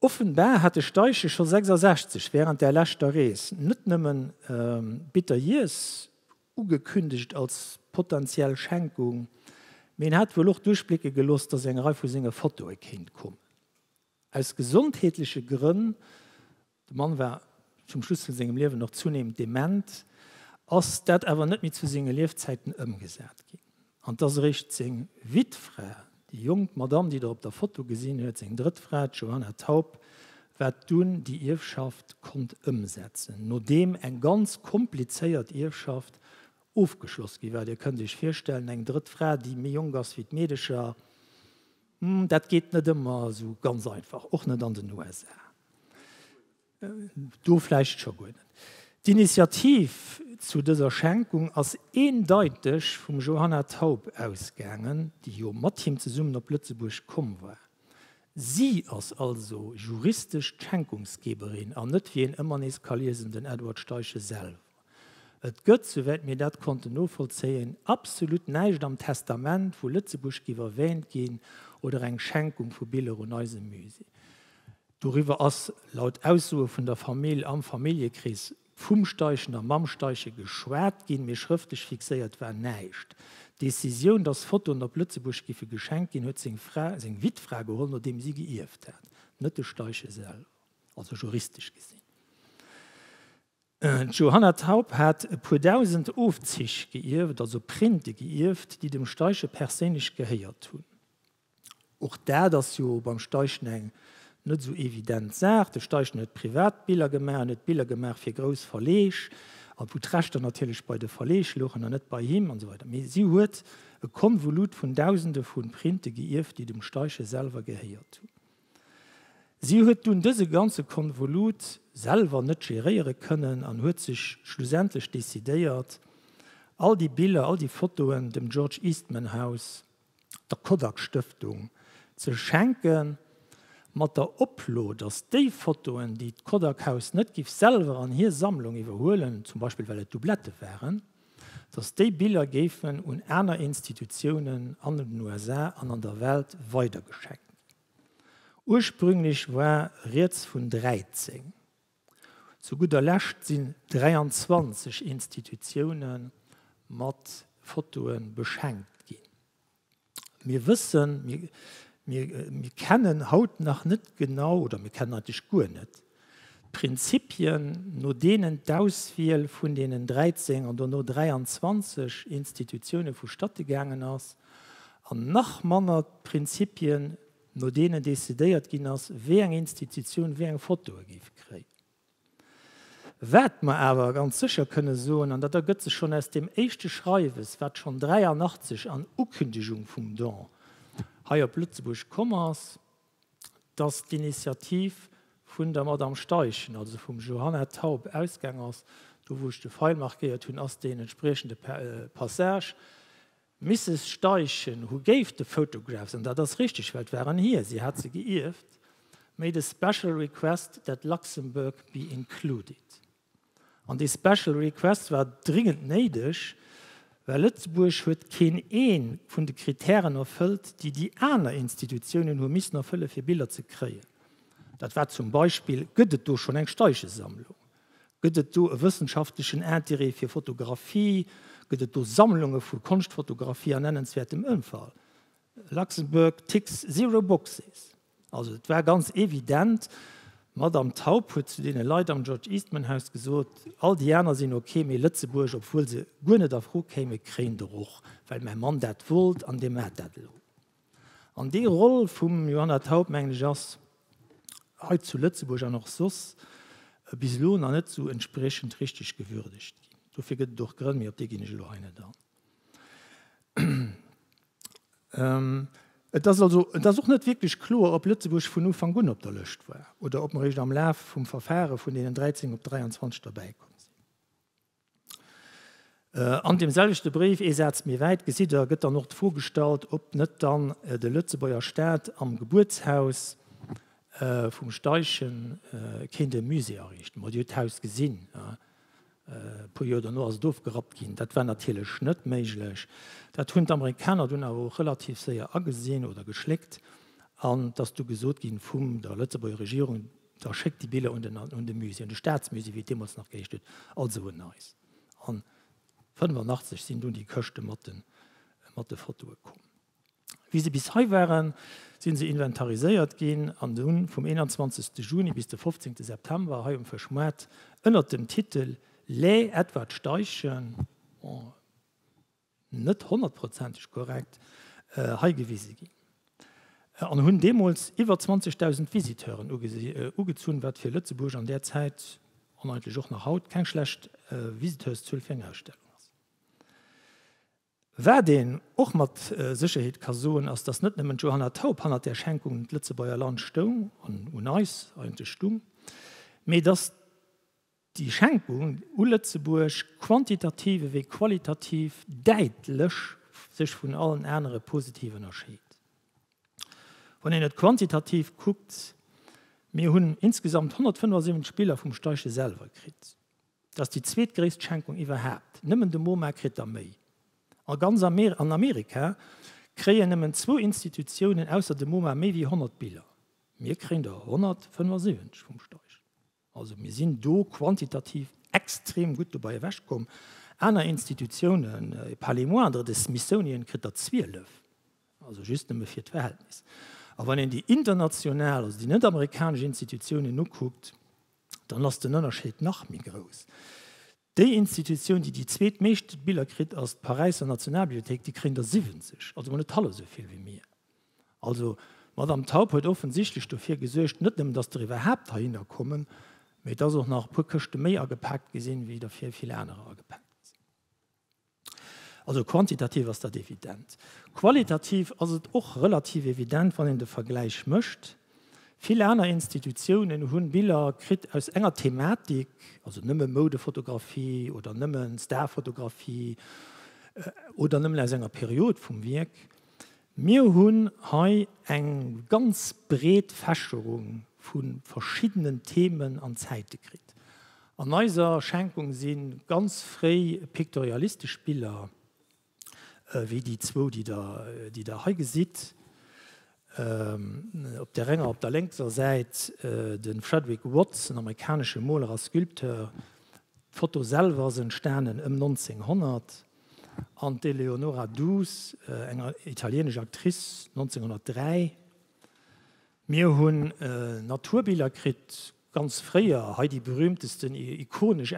[SPEAKER 1] Offenbar hat de Steiche scho 66 während där leschter Rees net nëmmen Bitter Years ugekündegt als potentiell Schenkung, mee en hat wuel och duerchblécke gelooss, dass eng Rei vu senge Fotoe kéint kommen. Aus gesondheetleche Grënn De Mann war zum Schluss vun sengem Liewen och zunehmend dement, ass dat awer net méi zu senge Liefzäiten ëmgesat ginn. An et ass eréischt seng Wittfra, déi jonk Madamm, déi Der op der Foto gesinn huet, seng drëtt Fra, d'Johanna Taup, wat dunn déi Ierfschaft konnt ëmsetzen, nodeem eng ganz komplizéiert Ierfschaft ofgeschloss gi war. Dir kënnt Iech virstellen, eng drëtt Fra, déi méi jonk ass wéi d'Meedecher. Hm, dat geet net ëmmer esou ganz einfach, och net an den USA. Do vläicht scho guer net. D'Initiativ zu dëser Schenkung ass eendeiteg vum Johanna Thaup ausgaangen, déi jo mat him zesummen op Lëtzebuerg komm war. Si ass also juristesch d'Schenkungsgeberin an net, wéi een ëmmer nees ka liesen, den Edward Steiche selwer. Et gëtt, souwäit mir dat konnten novollzéien, absolut näischt am Testament vu Lëtzebuerg giff erwähnt ginn oder eng Schenkung vu Biller un eise Musée. Doriwwer ass, laut Aussoe vun der Famill, am Familljekrees vum Steichen a mam Steichen geschwat ginn, mee schrëftlech fixéiert war näischt. D'Decisioun, dass Fotoen op Lëtzebuerg giffe geschenkt ginn, huet seng Fra, seng Wittfra, geholl, nodeem si geierft hat, net de Steichen selwer, also juristesch gesinn. D'Johanna Taup hat e puer dausend Ofzich geierft, also Printe geierft, déi dem Steiche perséinlech gehéiert hunn. Och dat ass jo beim Steichen eng net esou evident Saach. De Steichen huet privat Biller gemaach, en huet Biller gemaach fir grouss Verleeg, a wou d'Rechter natierlech bei de Verleeg louchen an net bei him an esou weider. Mee si huet e Konvolut vun dausende vu Printe geierft, déi dem Steiche selwer gehéiert hunn. Si huet dunn dëse ganze Konvolut selwer net geréiere kënnen an huet sech schlussendlech decidéiert, all déi Biller, all déi Fotoen dem George Eastman House, der Kodak Stëftung, ze schenken, mat der Oplo, datt déi Fotoen, déi d'Kodak Haus net giff selwer an hir Sammlung iwwerhuelen, zum Beispill well et Doublette waren, datt déi Biller géifen un aner Institutiounen an den USA an an der Welt weidergescheckt ginn. Ursprünglech war rieds vun 13. Zu gudder Lescht sinn 23 Institutioune mat Fotoe beschenkt ginn. Mir wëssen, mir, mir kennen haut nach net genau, oder mir kennen eigentlech guer net d'Prinzipien, no deenen d'Auswiel vun deenen 13 an dono 23 Institutiounen vu statte gaangen ass, an nach manner d'Prinzipien, no deenen decidéiert ginn ass, wéi eng Institutioun wéi eng Fotoe géif kréien. Wat mer awer ganz sécher kënne soen, an dat ergëtt sech schonn aus deem éischte Schreiwes, wat schonn 83 an Ukündigung vum Don hei op Lëtzebuerg komm ass, dass d'Initiativ vun der Madame Steichen, also vum Johanna Taub, ausgaang ass. Do, wou ech de Feil markéiert hunn, ass deen entspriechende Passage. D'Misses Steichen hu gave the photographs, an dat ass richteg, well et waren hir, si hat se geierft, made a special request that Luxembourg be included. An dee special request war dringend néideg, well Lëtzebuerg huet keen ee vun de Kritären erfëllt, déi déi aner Institutiounen hu missen erfëlle fir Biller ze kréien. Dat war zum Beispill, Gëtt et do schonn eng Steichesammlung? Gëtt et do e wëssenschaftlechen Intérêt fir Fotografie? Gëtt et do Sammlunge vu Konschtfotografie an nennenswäertem Ëmfall? Luxembourg ticks zero boxes. Also et war ganz evident, d'Madame Taub huet zu deene Leit am George Eastman Haus gesot, all déi aner sinn ok, mee Lëtzebuerg, obwuel se guer net a Fro kéime, kréien der och, well mäi Mann dat wollt an dee mat dat elo. An déi Roll vum Johanna Thaup, mengen ech, ass hei zu Lëtzebuerg an och soss bis elo nach net esou entspriechend richteg gewürdegt ginn. Dofir gëtt et och Grënn, mee op déi ginn ech elo hei net an. Et ass also, et ass och net wierklech kloer, ob Lëtzebuerg vun Ufank un op der Lëscht war oder ob mer eréischt am Laf vum Verfare vun deenen 13 op 23 derbäikomm sinn. An deem selwechte Bréif, ee Saz méi wäit, gesitt Der, gëtt dann och d'Fro gestallt, ob net dann de Lëtzebuerger Staat am Gebuertshaus vum Steichen kéint e Musée ariichten. Mir hu jo d'Haus gesinn, e puer Joer dono ass et ofgerappt ginn. Dat war natierlech net méiglech. Dat hunn d'Amerikaner dunn awer och relativ séier agesinn oder geschléckt an et ass du gesot gi vum der Lëtzebuerger Regierung, Da schéckt déi Biller un den, un de Musée, un de Staatsmusée, wéi et deemools nach geheescht huet, also un eis. An 85 sinn dunn déi Këschte mat de, mat de Fotoe komm. Wéi se bis hei waren, si se inventariséiert ginn an hunn vum 21 Juni bis de 15 September hei um Fëschmaart ënnert dem Titel Les Edward Steichen, net honnertprozenteg korrekt hei gewise ginn, an hunn deemools iwwer 20.000 Visiteuren ugezunn, wat fir Lëtzebuerg an där Zäit, an eigentlech och nach haut, keng schlecht Visiteurszuel fir eng Ausstellung ass. Wat een och mat Sécherheet ka soen, ass, datt net nëmmen d'Johanna Taup hannert där Schenkung un d'Lëtzebuerger Land stoung, an un eis eigentlech stung, mee datt, Déi Schenkung u Lëtzebuerg, quantitativ ewéi qualitativ, däitlech sech vun allen anere positiv ënnerscheet. Wann een et quantitativ kuckt, mir hunn insgesamt 175 Biller vum Steiche selwer kritt. Dat ass déi zweetgréisst Schenkung iwwerhaapt. Nëmmen de MoMa kritt der méi. A ganz Amerika kréien nëmmen zwou Institutiounen ausser dem MoMa méi ewéi 100 Biller. Mir kréien der 175 vum Steiche. Also mir sinn do quantitativ extrem gutt dobei ewech komm. Aner Institutiounen, par les moindres, de Smithsonian kritt der 12, also just nëmme fir d'Verhältnis. A wann een déi international, also déi net amerikanesch Institutiounen ukuckt, dann ass den Ënnerscheed nach méi grouss. Déi Institutioun, déi déi zweet meescht Biller kritt, ass d'Paräisser Nationalbibliothéik, déi kréien der 70, also mol net hallef esou vill wéi mir. Also d'Madame Taub huet offensichtlech dofir gesuergt, net nëmmen datt der iwwerhaapt heihinner kommen, mee datt och nach e puer Këschte méi agepaakt gi sinn, wéi der fir vill anerer agepaakt gi sinn. Also quantitativ ass dat evident. Qualitativ ass et och relativ evident, wann een de Vergläich mécht. Vill aner Institutiounen hu Biller kritt aus enger Thematik, also nëmme Moudefotografie oder nëmme Starfotografie oder nëmmen aus enger Period vum Wierk, Mir hunn hei eng ganz breet Fächerung vu verschiddenen Themen an Zäite kritt. An eiser Schenkung si ganz fréi piktorialistesch Biller, wéi déi zwou, déi Der, déi Der hei gesitt, op där enger op der lénkser Säit, de Frederick Watts, en amerikanesche Moler a Sculpteur. D'Foto selwer ass entstanen ëm 1900. An d'Eleonora Duse, eng italienesch Actrice, 1903. Mir hunn Naturbiller kritt, ganz fréier, hei déi berühmtesten, ikonesch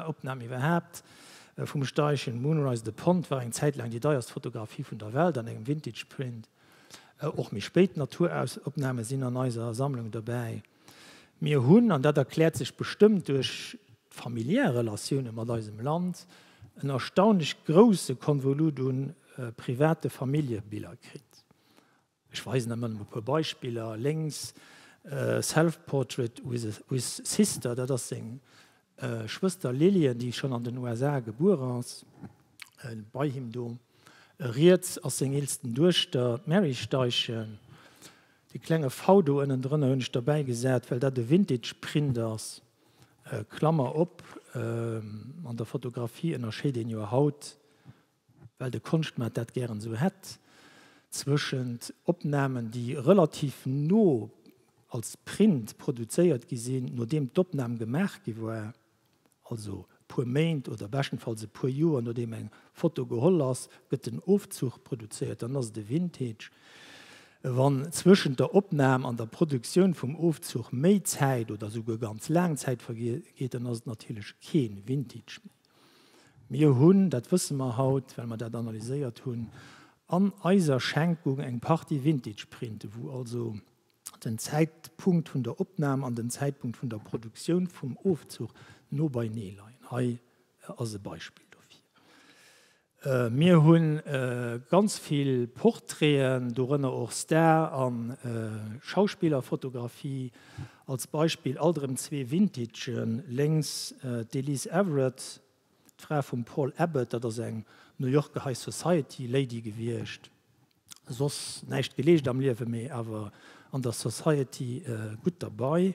[SPEAKER 1] Opnahm iwwerhaapt vum Steischen, Moonrise the Pond, war eng Zäit laang déi deierst Fotografie vun der Welt an engem Vintage Print. Och méi spéit Naturaufnahmen sinn an eiser Sammlung dobäi. Mir hunn, an dat erkläert sech bestëmmt duerch d'familiär Relatioune mat eisem Land, en erstaunlech grousse Konvolut u private Familljebiller kritt. Ech weisen emmer nëmme e puer Beispiller, lénks, Self-portrait with sister, dat ass seng Schwëster Lillian, déi schonn an den USA gebuer ass, bei him do. Riets ass seng eelsten Duechter, d'Mary Steichen. Dee klenge V do ënnendrënner hunn ech derbäi gesat, well dat e Vintage-Print ass. Klammer op, An der Fotografie ënnerscheet een jo haut well de Konschtmaart dat gären esou hätt, zwëschent Opnamen, déi relativ no als Print produzéiert gi sinn, nodeem d'Opnam gemaach gi war, also e puer Méint oder beschtenfalls e puer Joer nodeem eng Foto geholl ass, gëtt den Ofzuch produzéiert, dann ass et e Vintage. Wann zwëschent der Opnam an der Produktioun vum Ofzuch méi Zäit oder esouguer ganz laang Zäit vergeet, dann ass et natierlech kee Vintage méi. Mir hunn, dat wësse mer haut, well mer dat analyséiert hunn, an eiser Schenkung eng Partie Vintage-Printe, wou also den Zäitpunkt vun der Opnam an den Zäitpunkt vun der Produktioun vum Ofzuch no beienee leien. Hei ass e Beispill dofir. Mir hu ganz vill Portraiten, dorënner och Star a Schauspillerfotografie, als Beispill alt erëm zwee Vintagen, lénks d'Elise Everett, d'Fra vum Paul Abbott, dat ass eng New Yorker High Society Lady gewiescht, Soss näischt geleescht am Liewe, mee awer an der Society gutt derbei.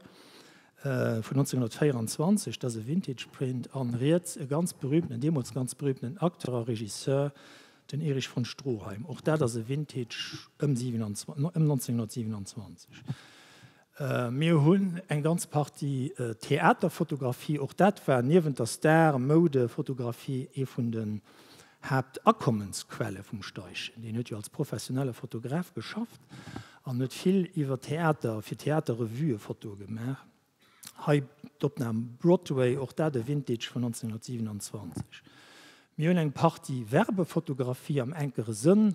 [SPEAKER 1] Vun 1924, dat ass e Vintage Print. An riets e ganz berühmtenen, deemools ganz berühmtenen Acteur a Regisseur, den Erich von Stroheim. Och dat ass e Vintage ëm 1927. Mir hunn eng ganz Partie Theaterfotografie, och dat war niewent der Star-Moudefotografie ee vun den Haaptakommensquelle vum Steichen. Deen huet jo als professionelle Fotograf geschafft an huet vill iwwer Theater, fir Theaterrevuë Fotoe gemaach. Hei d'Opnam Broadway, och dat e Vintage vun 1927. Mir hunn eng Partie Werbefotografie am enkere Sënn,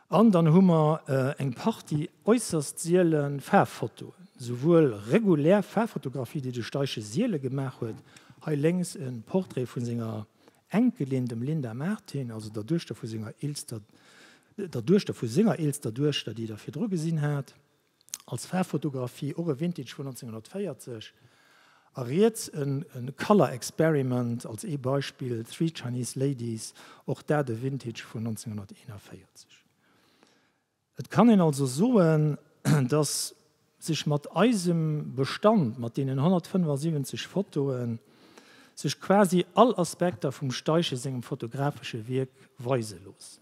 [SPEAKER 1] An dann hu mer eng Partie äusserst siele Faarffotoen, souwuel regulär Faarffotografie, déi de Steiche siele gemaach huet, hei lénks e Portrait vu senger Enkelin, dem Linda Martin, also der Duechter vu senger eelster der Duechter vu senger eelster Duechter, déi Der virdru gesinn hat, als Faarffotografie, och e Vintage vun 1940, a riets e Color Experiment als ee Beispill, Three Chinese Ladies, och dat e Vintage vun 1941. Et kann een also soen, dass sech mat eisem Bestand, mat deenen 175 Fotoen, sech quasi all Aspekter vum Steiche sengem fotografesche Wierk weise loossen.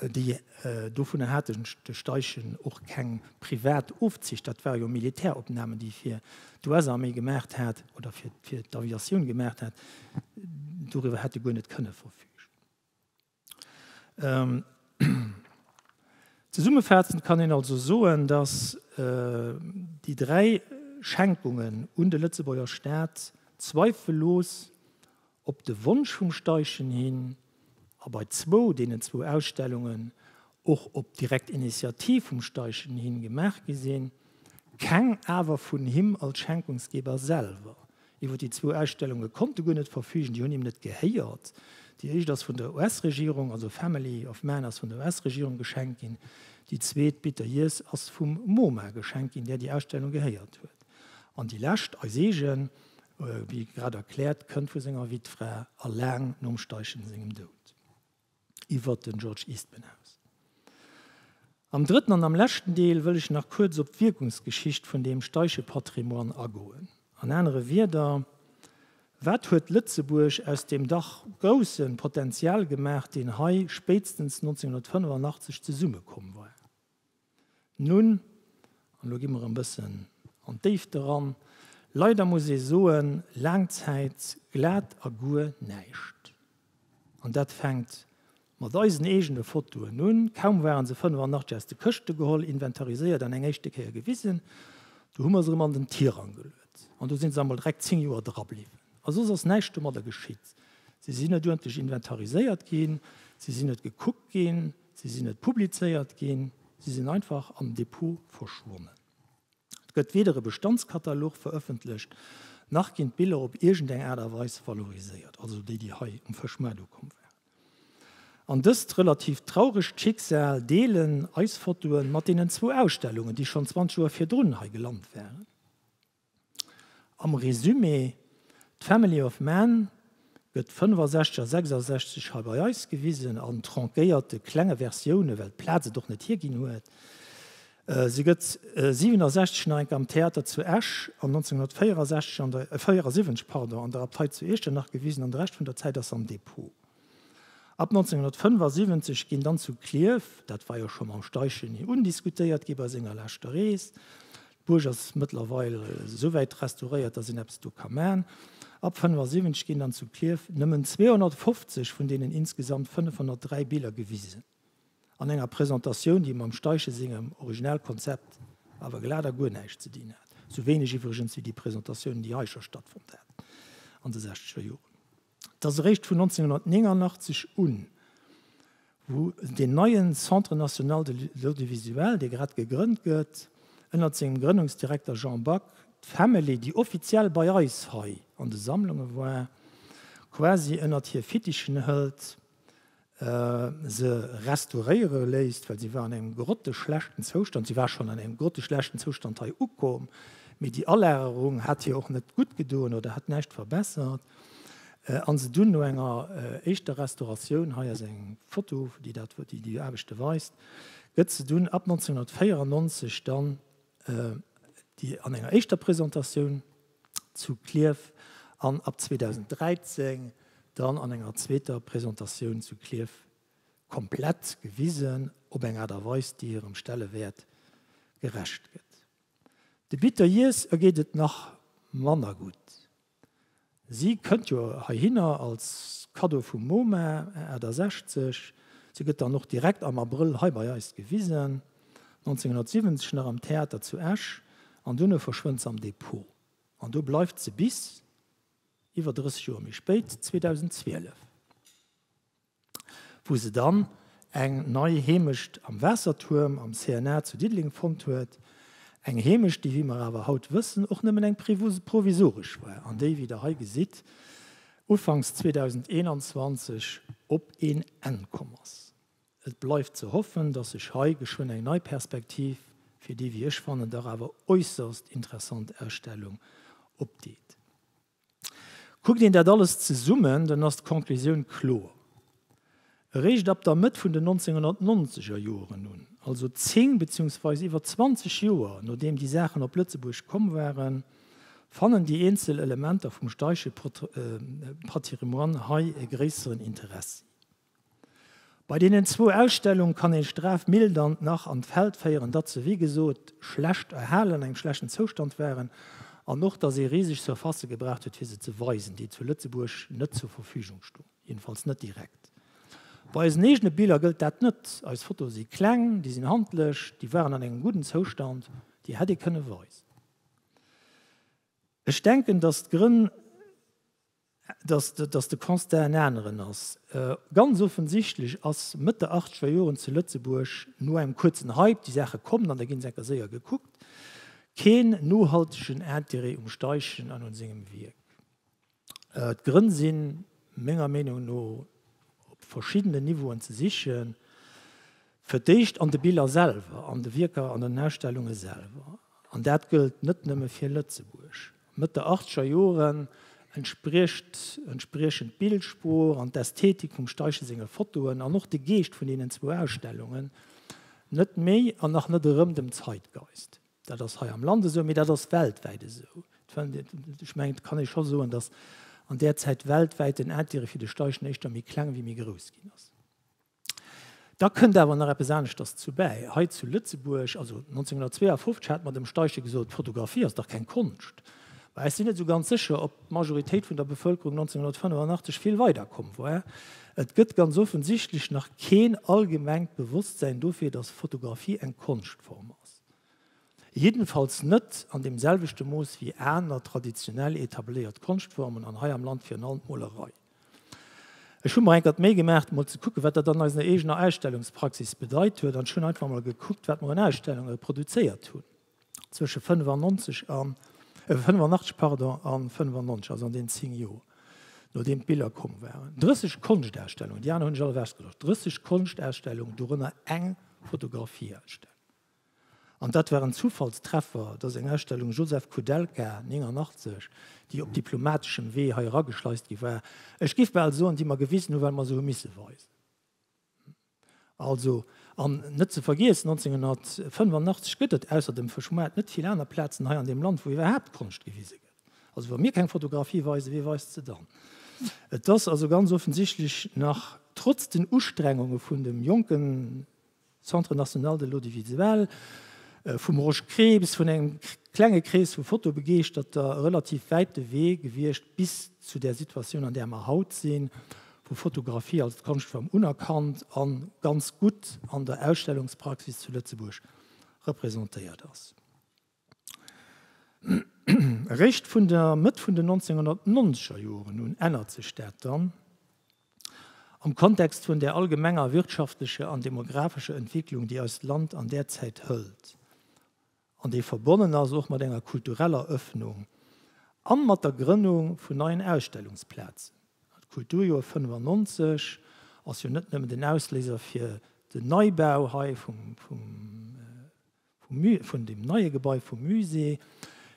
[SPEAKER 1] déi dovunner haten de Steichen och keng privat Ofzicht, dat ware jo Militäropnamen, déi fir d'US-Arméi gemaacht hat oder fir d'Aviatioun gemaacht hat, doriwwer hätt e guer net kënne verfügen. Zesummefazend kann een also soen, datt déi dräi Schenkungen un de Lëtzebuerger Staat zweifellos Op de Wonsch vum Steichen hin, a bei zwou, deenen zwou Ausstellungen och op direkt Initiativ vum Steichen hin gemaach gi sinn, keng awer vun him als Schenkungsgeber selwer. Iwwer déi zwou Ausstellunge konnt e guer net verfügen, déi hunn him net gehéiert. Déi éischt ass vun der US-Regierung, also Family of Man ass vun der US-Regierung geschenkt ginn, déi zweet, Bitter Years, ass vum MoMa geschenkt ginn, där déi Ausstellung gehéiert huet, an déi lescht, eis eegen, wéi grad erkläert, kënnt vu senger Wittfra a laang nom Steichen sengem Doud iwwert den George Eastman aus. Am drëtten an am leschten Deel wëll ech nach kuerz op d'Wierkungsgeschicht vun deem Steichepatrimoine agoen. An anere Wierder, Wat huet Lëtzebuerg aus deem dach grousse Potential gemaach, deen hei spéitstens 1985 zesummekomm war? Nun, an elo gi mer e bëssen an d'Déifte ran, leider muss ee soen, laang Zäit glat a guer näischt. An dat fänkt mat eisen eegene Fotoen un. Kaum waren se 85 aus de Këschte geholl, inventariséiert an eng éischte Kéier gewisen, du hu mer se erëm an den Tirang geluet. An do si se emol direkt zéng Joer drabliwwen. A soss ass näischt domadder geschitt. Se sinn net uerdentlech inventariséiert ginn, se sinn net gekuckt ginn. Si sinn net publizéiert ginn, si sinn einfach am Depot verschwonnen. Et gëtt weder e Bestandskatalog verëffentlecht, nach ginn d'Biller op iergendeng Aart a Weis valoriséiert, also déi, déi hei um Fëschmaart ukomm waren. An dëst relativ trauregt Schicksal deelen eis Fotoe mat deenen zwou Ausstellungen, déi schonn 20 Joer virdrun hei gelant waren. Am Resumé, D'Family of Man gëtt 65 a 66 hei bei eis gewisen, an tranckéierte klenge Versioune, well d'Plaz et och net hierginn huet. Se gëtt 67 nach eng Kéier am Theater zu Esch an 1964 pardon an der Abtei zu Iechternach gewisen an de Rescht vun der Zäit ass se am Depot. Ab 1975 ginn dann zu Clierf, dat war jo scho mam Steichen undiskutéiert gi bei senger leschter Rees, D'Buerg ass mëttlerweil souwäit restauréiert, datt een eppes do ka man. Ab 75 ginn dann zu Klierf nëmmen 250 vun deenen insgesamt 503 Biller gewisen, an enger Presentatioun, déi mam Steichen sengem Originalkonzept awer glat a guer näischt ze dinn hat. Sou wéineg iwwregens wéi déi Presentatiounen, déi hei scho stattfonnt haten an de sechzeger Joren. Et ass eréischt vun 1989 un, wou deen neien Centre national de l'audiovisuel, dee grad gegrënnt gëtt, ënnert sengem Grënnungsdirekter Jean Back, d'Family, déi offiziell bei eis hei an de Sammlunge war, quasi ënnert hir Fittichen hëlt, se restauréiere léisst, well si war an engem grotteschlechten Zoustand, si war schonn an engem grotteschlechten Zoustand hei ukomm, mee déi Alagerung hat hir och net gutt gedoen oder hat näischt verbessert, a se dunn no enger éischter Restauratioun, hei ass eng Foto, déi dat, déi déi Aarbechte weist, gëtt se dunn ab 1994 dann, déi an enger éischter Presentatioun, zu Klierf an ab 2013 dann an enger zweeter Presentatioun zu Klierf komplett gewisen, op eng Aart a Weis, déi hirem Stellewäert gerecht gëtt. De Bitteryears ergeet et nach manner gutt. Si kënnt jo heihinner als Kaddo vum MoMa, Ae 68. Si gëtt dann och direkt am Abrëll hei bei eis gewisen. 1970 nach am Theater zu Esch an duerno verschwënnt se am Depot. An do bleift se bis, iwwer 30 Joer méi spéit, 2012, wou se dann eng nei Heemecht am Waassertuerm am CNA zu Diddeleng fonnt huet. Eng Heemecht, déi, wéi mer awer haut wëssen, och nëmmen eng provisoresch war an déi, wéi Der hei gesitt, ufanks 2021 op een Enn komm ass. Et bleift ze hoffen, dass sech hei geschwënn eng nei Perspektiv fir déi, wéi ech fannen, dach awer äusserst interessant Ausstellung opdeet. Kuckt een dat alles zesummen, dann ass d'Conclusioun kloer. Eréischt ab der Mëtt vun den 1990er Joren un, also zéng beziungsweis iwwer zwanzeg Joer nodeem déi Saachen op Lëtzebuerg komm waren, fannen déi eenzel Elementer vum Steiche Patrimoine hei e gréisseren Interessi. Bei deenen zwou Ausstellung kann een Strath Mildant nach an d'Feld féieren, datt se wéi gesot schlecht erhalen, an engem schlechten Zoustand waren, an och datt ee riseg Surfacë gebraucht huet fir se ze weisen, déi zu Lëtzebuerg net zur Verfügung stoen, jedenfalls net direkt. Bei eisen eegene Biller gëllt dat net, eis Fotoe si kleng, déi sinn handlech, déi waren an engem gudden Zoustand, déi hätt ee kënne weisen. Ech denken, datt d'Grënn datt de Constat en aneren ass. Ganz offensichtlech ass Mëtt der achtzeger Joren zu Lëtzebuerg, no engem kuerzen Hype, déi Saache kommen, an da ginn se enker séier gekuckt, keen nohaltegen Interêt um Steichen an un sengem Wierk. D'Grënn si menger Meenung no op verschiddenen Niveauen ze sichen, fir d'éischt an de Biller selwer, an de Wierker, an den Ausstellunge selwer, an dat gëllt net nëmme fir Lëtzebuerg. Mëtt der achtzeger Joren entspriecht entspriechen d'Bildsprooch an d'Ästhetik vum Steichen senge Fotoen an och de Geescht vun deenen zwou Ausstellungen net méi an nach net erëm dem Zeitgeist. Dat ass hei am Land esou, mee dat ass weltwäit esou. Ech mengen, et kann ee scho soen, datt an där Zäit weltwäit den Intérêt fir de Steichen éischter méi kleng ewéi méi grouss ginn ass. Da kënnt awer nach eppes aneschters zu bäi. Hei zu Lëtzebuerg, also 1952, hat mer dem Steichen gesot, Fotografie ass dach keng Konscht. Mä ech sinn net esou ganz sécher, ob d'Majoritéit vun der Bevëlkerung 1985 vill weider komm war. Et gëtt ganz offensichtlech nach keen allgemengt Bewosstsäin dofir, datt Fotografie eng Konschtform ass. Jiddenfalls net an deem selwechte Mooss wéi aner traditionell etabléiert Konschtformen, an hei am Land virun allem d'Molerei. Ech hu mer enker d'Méi gemaacht mol ze kucken, wat dat an eisener eegener Ausstellungspraxis bedeit huet an ech hunn einfach mol gekuckt, wat mer un Ausstellunge produzéiert hunn zwësche 95 a, 85 pardon, a 95, also an deenen zéng Joer, nodeem d'Biller komm waren. 30 Konschtausstellungen, déi aner hunn ech all ewechgelooscht, 30 Konschtausstellungen, dorënner eng Fotografieausstellung. An dat war en Zufallstreffer, dass eng Ausstellung Josef Koudelka, 89, déi op diplomateschem Wee hei erageschleist gi war, ech giff bal soen, déi mer gewisen hu well mer se hu misse weisen. Also, an net ze vergiessen, 1985 gëtt et ausser dem Fëschmoart net vill aner Plazen hei an deem Land, wou iwwerhaapt Konscht gewise gëtt. Also wa mir keng Fotografie weisen, wee weist se dann? Et ass also ganz offensichtlech nach, trotz den Ustrengunge vun dem jonken Centre National de l'Audiovisuel, vum Rosch Krieps, vun engem klenge Krees vu Fotobegeeschterter, e relativ wäite Wee gewiescht bis zu där Situatioun, an där mer haut sinn, wou Fotografie als Konschtform unerkannt a ganz gutt an der Ausstellungspraxis zu Lëtzebuerg representéiert ass. Eréischt vun der Mëtt vun den 1990er Joren un ännert sech dat dann, am Kontext vun där allgemenger wirtschaftlecher an demographescher Entwicklung, déi eist Land an där Zäit hëlt an déi verbonnen ass och mat enger kultureller Öffnung a mat der Grënnung vun neien Ausstellungsplazen. Dat Kulturjoer 1995 ass jo net nëmmen den Ausléiser fir den Neibau hei vum vun dem neie Gebai vum Musée,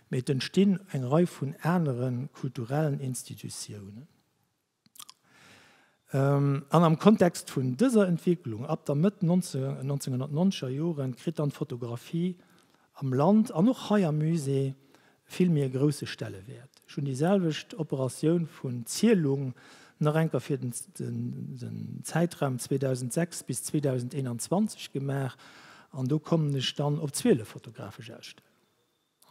[SPEAKER 1] mee et entstinn eng Rei vun anere kulturellen Institutiounen. An am Kontext vun dëser Entwécklung, ab der Mëtt 1990er Joren, kritt dann d'Fotografie am Land an och hei am Musée vill méi e grousse Stellewäert. Ech hunn déi selwecht Operatioun vun Zielung nach enker fir den Zäitraum 2006 bis 2021 gemaach an do kommen ech dann op 12 fotografesch Ausstellungen.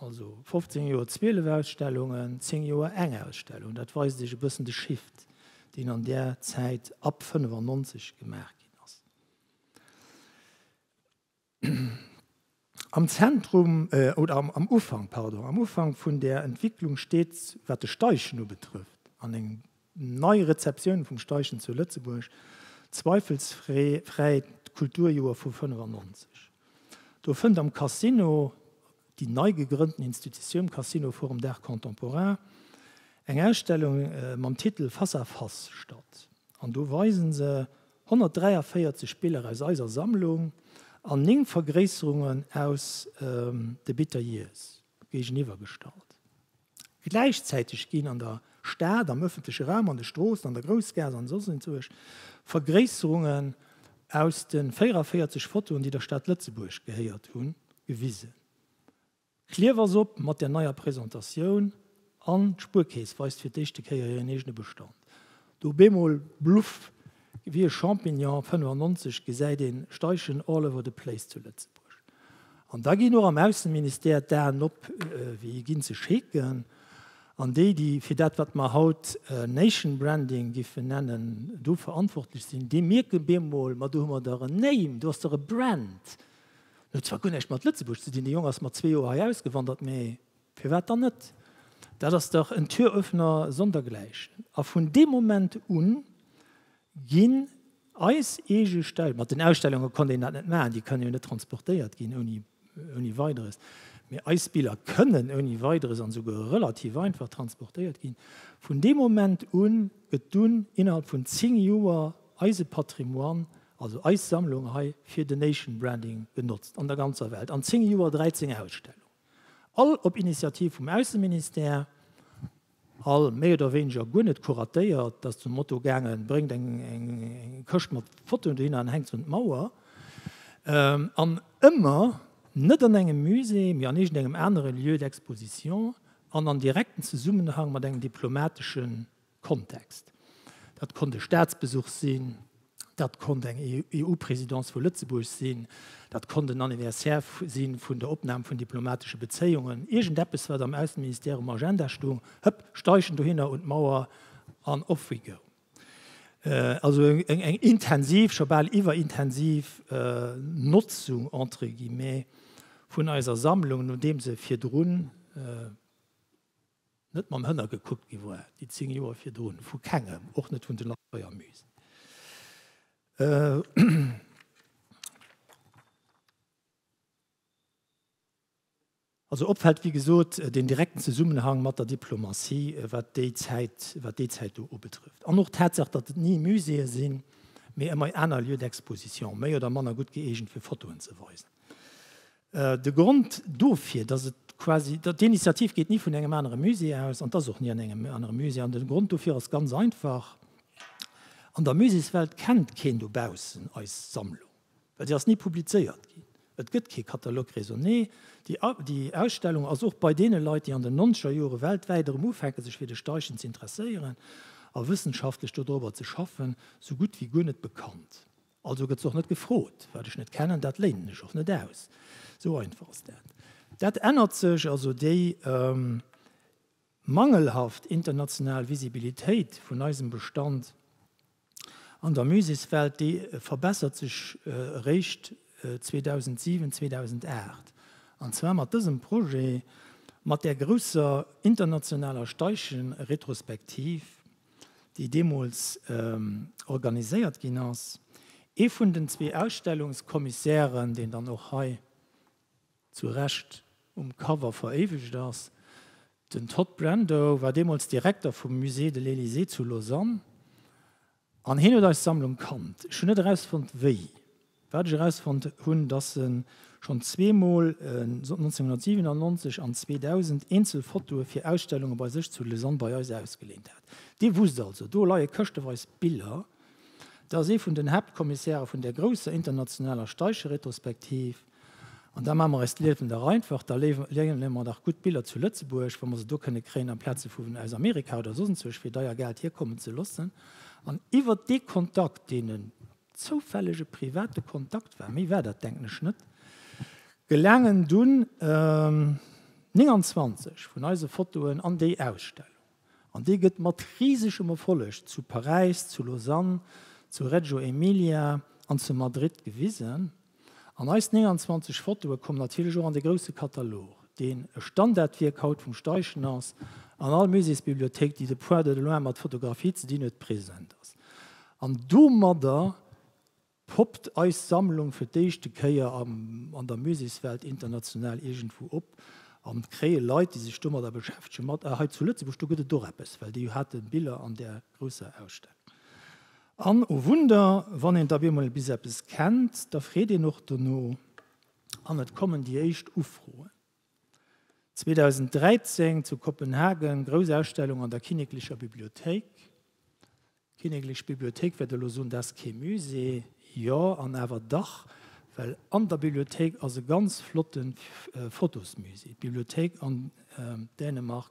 [SPEAKER 1] Also 15 Joer 12 Ausstellungen, 10 Joer eng Ausstellung. Dat weist Iech e bëssen de Shift, deen an där Zäit ab 1995 gemaach ginn ass. Am Zentrum, oder am, am Ufank, pardon, am Ufank vun där Entwicklung steet, wat de Steichen ubetrëfft, an eng nei Rezeptioun vum Steichen zu Lëtzebuerg, zweifelsfree fräi d'Kulturjoer vu 95. Do fënnt am Casino, déi nei gegrënnten Institutioun, Casino Forum d'Art Contemporain, eng Ausstellung mam Titel Face à face statt. An do weisen se 143 Biller aus eiser Sammlung an 9 Vergréisserungen aus de Biteriees géigeniwwer gestallt. Gläichzäiteg ginn an der Stad, am ëffentleche Raum, an de Stroossen, an der Groussgaass an soss enzwousch Vergréisserungen aus de 44 Fotoen, déi der Stad Lëtzebuerg gehéiert hunn, gewisen. D'Kliewersopp mat der neier Presentatioun an d'Spuerkeess weist fir d'éischte Kéier hiren eegene Bestand. Do bemol bluff, wéi e Champignon 95 gesäit een Steichen all over the place zu Lëtzebuerg. An da ginn och am Ausseministère d'Aen op, wéi ginn ze scheken. An déi, déi fir dat wat mer haut Nation Branding géifen nennen, do verantwortlech sinn, déi mierken bemol, ma do hu mer dach en Name, do ass dach e Brand, En huet zwar guer näischt mat Lëtzebuerg ze dinn, de Jong ass mat zwee Joer hei ausgewandert, mee firwat dann net? Dat ass dach en Türöffner sondergleichen. A vun deem Moment un ginn eis eege Stell, mat den Ausstellunge konnt een dat net maachen, déi kënnen jo net transportéiert ginn ouni ouni Weideres, mee eis Biller kënnen ouni Weideres an esouguer relativ einfach transportéiert ginn. Vun deem Moment un gëtt dunn innerhalb vun zéng Joer eise Patrimoine Also eis Sammlung hei fir de Nation Branding genotzt an der ganzer Welt. An 10 Joer 13 Ausstellungen. All op Initiativ vum Ausseministère, all méi oder wéineger guer net kuratéiert. Ass zum Motto gaangen, bréngt eng Këscht mat Fotoen dohinner an hänkt se un d'Mauer. An ëmmer net an engem Musée, mee an iergendengem anere Lieu d'exposition an an direkten Zesummenhang mat engem diplomateschen. Kontext. Dat konnt e Staatsbesuch sinn, dat konnt eng EU-Presidence vu Lëtzebuerg sinn, dat konnt en Anniversaire si vun der Opnam vun diplomatesche Bezéiungen, iergendeppes, wat am Ausseministère um Agenda stoung, hëpp, Steichen dohinner un d'Mauer an off we go. Also eng intensiv, scho bal iwwerintensiv Notzung, entre guillemets, vun eiser Sammlung, nodeem se virdrun, net mam Hënner gekuckt gi war, déi 10 Joer virdrun, vu kengem, och net vun den Atreamüsen. Also opfällt, wéi gesot, den direkten Zesummenhang mat der Diplomatie, wat déi Zäit, wat déi Zäit do ubetrëfft. An och d'Tatsaach, datt et ni Muséeë sinn, mee ëmmer aner Lieux d'exposition, méi oder manner gutt gëeegent, fir Fotoen ze weisen. De Grond dofir, dass et quasi, d'Initiativ geet ni vun engem anere Musée aus an t'ass och ni an engem anere Musée. An de Grond dofir ass ganz einfach, An der Muséeswelt kennt keen dobaussen eis Sammlung, well se ass ni publizéiert ginn. Et gëtt kee Catalogue raisonné. Déi Ausstellung ass och bei deene Leit, déi an den nonzeger Jore weltwäit erëm ufänke sech fir de Steichen z'interesséieren a wëssenschaftlech dodrobber ze schaffen, sou gutt wéi guer net bekannt. Also gëtt se och net gefrot. Wat ech net kennen, dat léinen ech och net aus. Esou einfach ass dat. Dat ännert sech. Also déi mangelhaft international Visibilitéit vun eisem Bestand an der Muséeswelt, déi verbessert sech eréischt 2007, 2008. An zwar mat dësem Projet, mat där grousser internationaler Steichen-Retrospektiv. déi deemools organiséiert ginn ass. Ee vun den zwee Ausstellungskommissären, deen dann och hei zu Recht um Cover veréiwegt ass, den Todd Brando, war deemools Direkter vum Musée de l'Elysée zu Lausanne an hien huet eis Sammlung kannt. Ech hunn net erausfonnt, wéi. Wat ech erausfonnt hunn, dass en schonn zwee Mol, 1997 an 2000, eenzel Fotoe fir Ausstellunge bei sech zu Lausanne bei eis ausgeleent hat. Dir wusst also, do leie këschteweis Biller, dass ee vun den Haaptkommissäre vun där grousser internationaler Steiche-Retrospektiv, an da maache mer eis d'Liewen dach einfach, da léine mer dach gutt Biller zu Lëtzebuerg, wa mer se do kënne kréien, amplaz se vu aus Amerika oder soss enzwousch fir deier Geld hierkommen ze loossen, an iwwert dee Kontakt, deen e Zoufällege private Kontakt war, méi war dat denken ech net, gelaangen dunn 29 vun eise Fotoen an déi Ausstellung. An déi gëtt mat riisegem Erfolleg zu Paräis, zu Lausanne, zu Reggio Emilia an zu Madrid gewisen. An eis 29 Fotoe kommen natierlech och an de grousse Katalog, deen e Standardwierk haut vum Steichen ass, an all Muséesbibliothéik, déi de Point de loin mat Fotografie ze dinn huet, present ass. An domadder poppt eis Sammlung fir d'éischte Kéier an der Muséeswelt international iergendwou op an kréie Leit, déi sech domadder beschäftegen, mat, Ah, hei zu Lëtzebuerg, do gëtt et och eppes, well déi hate Biller an där grousser Ausstellung. An, o Wunder, wann een da bemol bis eppes kennt, da freet een och dono an et kommen déi éischt Ufroen. 2013 zu Kopenhagen, grouss Ausstellung an der Kinneklecher Bibliothéik. D'Kinneklech Bibliothéik wäert elo soen, dat ass kee Musée. Jo, an awer dach, well an der Bibliothéik ass e ganz flotte Fotosmusée. D'Bibliothéik an Dänemark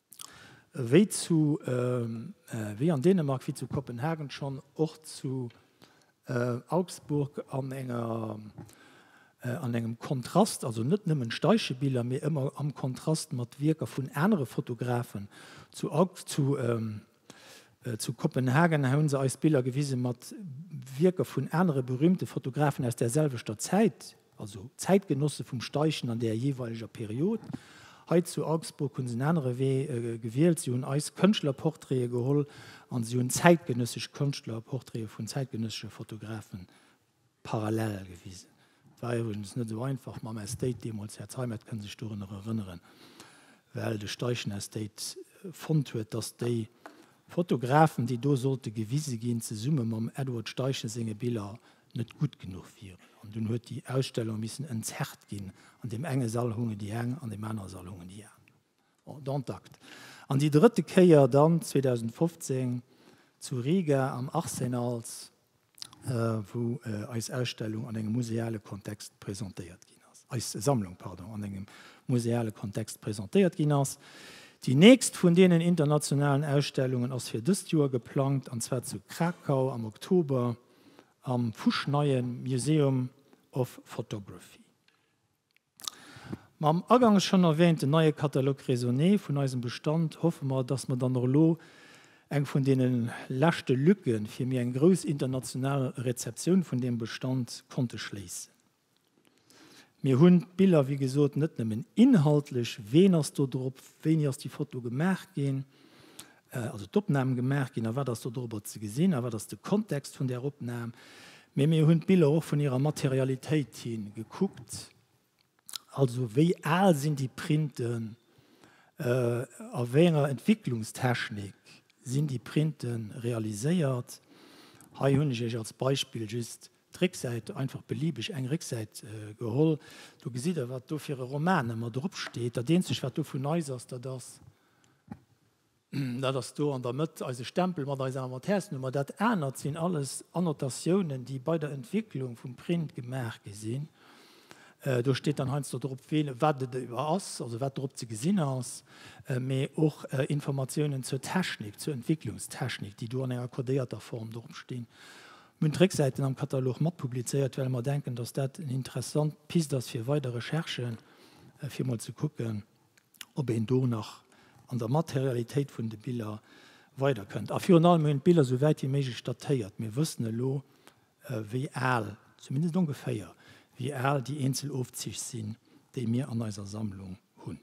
[SPEAKER 1] Wéi zu, wéi an Dänemark, wéi zu Kopenhagen schonn och zu Augsburg an enger, an engem Kontrast, also net nëmmen Steichebiller, mee ëmmer am Kontrast mat Wierker vun anere Fotografen. Zu Aug, zu Zu Kopenhagen hu se eis Biller gewise mat Wierker vun anere berüümte Fotografen aus där selwechter Zäit, also Zäitgenosse vum Steichen an där jeeweileger Period. Hei zu Augsburg hu se en anere Wee gewielt, si hunn eis Kënschtlerportraite geholl a si hunn zäitgenëssesch Kënschtlerportraite vun zäitgenëssesche Fotografe Parallel gewisen. Et war iwwregens net esou einfach mam Estate deemools, Här Zeimet kënn sech dorunner erënneren, well de Steichen Estate fonnt huet, datt déi Fotografen, déi do sollte gewise ginn, zesumme mam Edward Steichen senge Biller net gutt genuch wieren. An dunn huet déi Ausstellung missen entzerrt ginn. An deem enge Sall hunge déi eng, an deem anere Sall hungen déi aner. Bon, dont acte. An déi drëtte Kéier dann 2015 zu Riga am Arsenals, wou eis Ausstellung an engem museale Kontext presentéiert ginn ass, eis Sammlung, pardon, an engem museale Kontext presentéiert ginn ass. Déi nächst vun deenen internationalen Ausstellungen ass fir dëst Joer geplangt, an zwar zu Krakau am Oktober am fuschneie Museum of Photography. Mam agangs schonn erwähnten neie Catalogue raisonné vun eisem Bestand hoffe mer, dass mer dann och elo eng vun deene leschte Lücke fir méi eng grouss international Rezeptioun vun deem Bestand konnte schléissen. Mir hunn d'Biller, wéi gesot, net nëmmen inhaltlech, ween ass do drop, wéini ass déi Foto gemaach ginn, Also d'Opnamen gemaach ginn a wat ass do dorobber ze gesinn a wat ass de Kontext vun där Opnam. Mee mir hunn d'Biller och vun hirer Materialitéit hi gekuckt. Also wéi al sinn déi Printen, a wéi enger Entwicklungstechnik sinn déi Printe realiséiert. Hei hunn ech Iech als Beispill just d'Récksäit, einfach beliebeg eng Récksäit geholl. Do gesitt Der wat do fir e Romane mat drop steet. Dat eenzegt wat do vun eis ass, dat ass. Dat ass do an der Mëtt eise Stempel mat eiser Inventärsnummer. Dat anert sinn alles Annotatiounen, déi bei der Entwicklung vum Print gemaach gi sinn. Do steet dann heiansdo drop, wat et ass, also wat drop ze gesinn ass, mee och Informatiounen zur Technik, zur Entwicklungstechnik, déi do an enger codéierter Form dropstinn. Mir hunn d'Récksäiten am Katalog mat publizéiert, well mer denken, dass dat eng interessant Pist ass fir weider Recherchen, fir emol ze kucken, ob een do nach an der Materialitéit vun de Biller weider kënnt. A virun allem hunn d'Biller esou wäit wéi méiglech datéiert. Mir wëssen elo, wéi al, zumindest ongeféier, wéi al déi eenzel Ofzich sinn, déi mir an eiser Sammlung hunn.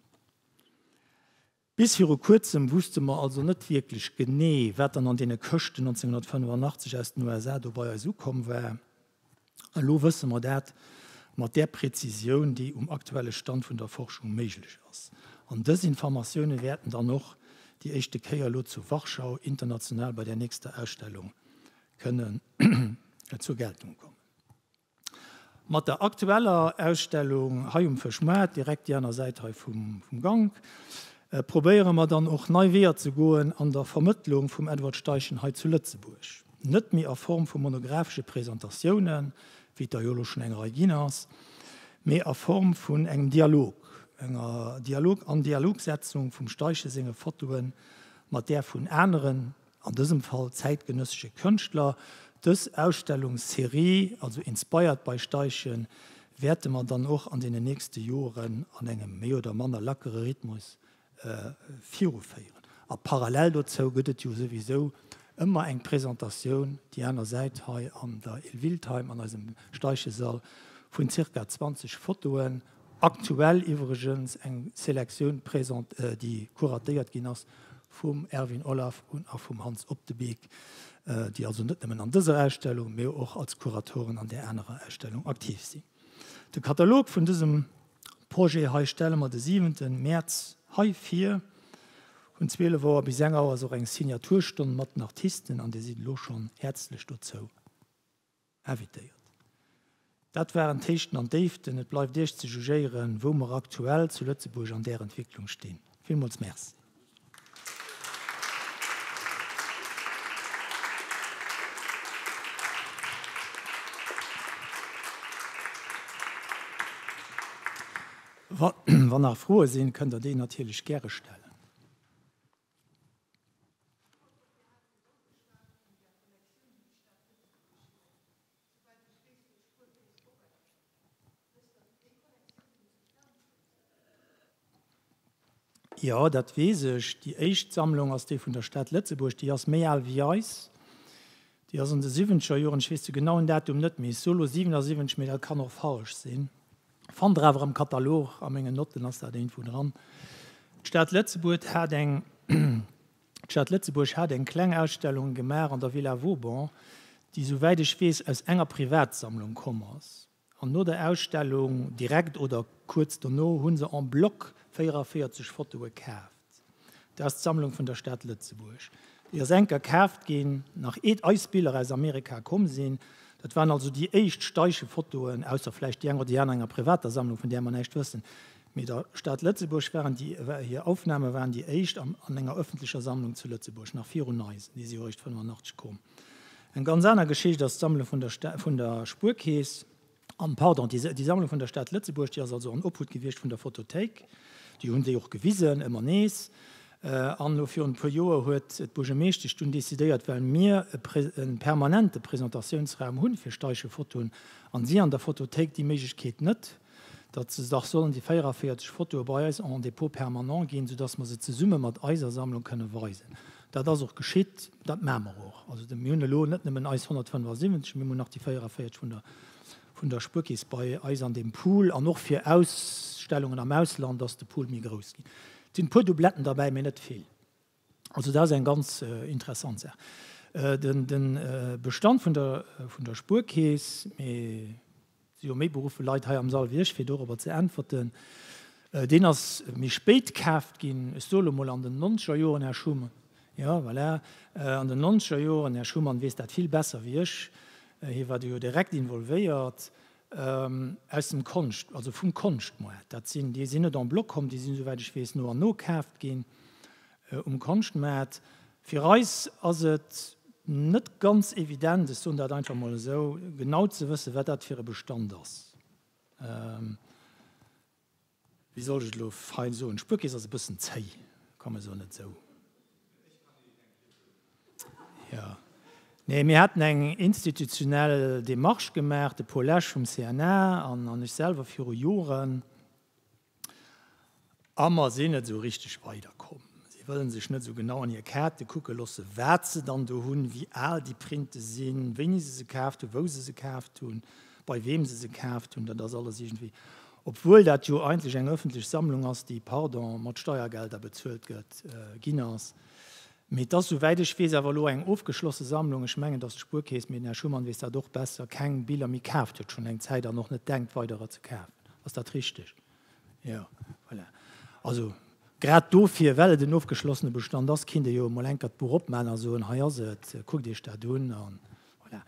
[SPEAKER 1] Bis viru Kuerzem wusste mer also net wierklech genee, wat dann an deene Këschten 1985 aus den USA do bei eis ukomm war. Elo wësse mer dat mat där Präzisioun, déi um aktuelle Stand vun der Forschung méiglech ass. An dës Informatioune wäerten dann och déi éischte Kéier elo zu Warschau international bei där nächster Ausstellung kënnen zur Geltung kommen. Mat der aktueller Ausstellung hei um Fëschmaart, direkt déi aner Säit hei vum Gank, probéiere mer dann och nei Weeër ze goen an der Vermëttlung vum Edward Steichen hei zu Lëtzebuerg. Net méi a Form vu monographesche Presentatiounen, wéi et der jo elo schonn eng Rei ginn ass, mee a Form vun engem Dialog, enger Dialog An-Dialogsetzung vum Steichen senge Fotoe mat där vun aneren, an dësem Fall zäitgenëssesche Kënschtler. Dës Ausstellungsserie, also Inspired by Steichen, wäerte mer dann och an deenen nächste Joren an engem méi oder manner lackere Rhythmus viruféieren. A parallel dozou gëtt et jo souwisou ëmmer eng Presentatioun, déi aner Säit, hei an der Il Wildheim, an eisem Steichesall, vun zirka 20 Fotoen, aktuell iwwregens eng Selektioun, déi kuratéiert ginn ass vum Erwin Olaf un a vum Hans Op de Beek, déi also net nëmmen an dëser Ausstellung, mee och als Kuratoren an där anerer Ausstellung aktiv sinn. De Katalog vun dësem Projet hei stelle mer de 7 Mäerz hei vir. Vun 12 Auer bis eng Auer ass och eng Signaturstonn mat den Artisten an Dir sidd elo schonn häerzlech dozou invitéiert. Dat waren d'Héichten an d'Déiften. Et bleift Iech ze jugéieren, wou mer aktuell zu Lëtzebuerg an där Entwécklung stinn. Villmools Merci. Wann nach Froe sinn, kënnt Der déi natierlech gäre stellen. Jo, dat weess ech. Déi éischt Sammlung ass déi vun der Stad Lëtzebuerg. Déi ass méi al wéi eis. Déi ass an de siwwenzeger Joren, ech weess de genauen Datum net méi, solo 77, mee dat kann och falsch sinn, fannt Der awer am Katalog, a mengen Notten ass dat éintwou dran. D'Stad Lëtzebuerg hat eng. D'Stad Lëtzebuerg hat eng kleng Ausstellung gemaach an der Villa Vauban, déi sou wäit ech weess aus enger Privatsammlung komm ass. An no der Ausstellung, direkt oder kuerz dono, hu se en bloc 44 Fotoe kaaft. Dat ass d'Sammlung vun der Stad Lëtzebuerg. Déi ass enker kaaft ginn, nach eet eis Biller aus Amerika komm sinn. Dat waren also déi éischt Steichefotoen, ausser vläicht déi eng oder déi aner enger privater Sammlung, vun där mer näischt wëssen. Mee der Stad Lëtzebuerg waren déi, war hir Aufname waren déi éischt an an enger ëffentlecher Sammlung zu Lëtzebuerg, nach virun eis, déi si jo eréischt 85 koom. Eng ganz aner Geschicht ass d'Sammlung vun der vun der Spuerkeess, an, pardon, déi déi Sammlung vun der Stad Lëtzebuerg, déi ass also an Obhut gewiescht vun der Photothéik, déi hunn déi och gewisen, ëmmer nees, an elo virun e puer Joer huet d'Buergermeeschtesch dunn decidéiert, well mir e pré e permanente Presentatiounsraum hunn fir Steiche-Fotoen, an si an der Photothéik déi Méiglechkeet net, datt se dach sollen déi 44 Fotoe bei eis en Dépôt permanent ginn, soudass mer se zesumme mat eiser Sammlung kënne weisen. Dat ass och geschitt, dat maache mer och. Also mir hunn elo net nëmmen eis 175, mee mir hunn nach déi 44 vun der vun der Spuerkeess bei eis an deem Pool. An och fir Ausstellungen am Ausland ass de Pool méi grouss ginn. Et sinn e puer Doubletten derbäi, mee net vill. Also dat ass eng ganz interessant Saach. De Bestand vun der Spuerkeess, mee et si jo méi beruffen Leit hei am Sall wéi ech, fir dorobber ze äntwerten, deen ass méi spéit kaaft ginn. Ech soe elo mol an den Nonzegerjoren, Här Schumann. Jo, voilà, an den Nonzegerjoren. Här Schumann weess dat vill besser wéi ech, hie war do jo direkt involvéiert. Aus dem Konscht, also vum Konschtmoart. Dat sinn, déi sinn net en bloc komm, déi sinn, esouwäit ech weess, no an no kaaft ginn um Konschtmaart. Fir eis ass et net ganz evident, ech soen dat einfach mol esou, genau ze wëssen, wat dat fir e Bestand ass. Wéi soll ech et elo fein soen? Spuerkeess ass e bëssen zéi, komm esou net esou. Jo, nee, mir haten eng institutionell Démarche gemaach, de Paul Lesch vum CNA an an ech selwer viru Joren, a mer sinn net esou richteg weiderkomm. Si wëllen sech net esou genau an hir Kaarte kucke loosse, wat se dann do hunn, wéi al déi Printe sinn, wéini se se kaaft hunn, wou se se kaaft hunn. bei weem se se kaaft hunn, dat ass alles iergendwéi, obwuel dat jo eigentlech eng ëffentlech Sammlung ass, déi, pardon, mat Steiergelder bezuelt gëtt, ginn ass. Mee et ass, souwäit ech weess, awer elo eng ofgeschlosse Sammlung. Ech mengen, dass d'Spuerkeess, mee den Här Schumann weess dat och besser, keng Biller méi kaaft huet, schonn eng Zäit, an och net denkt, weiderer ze kafen. Ass dat richteg? Jo, voilà. Also, grad dofir, well et en ofgeschlossene Bestand ass, kéint ee jo emol enker d'Buch opmachen a soen, Hei ass et, kuckt Iech dat un, a voilà.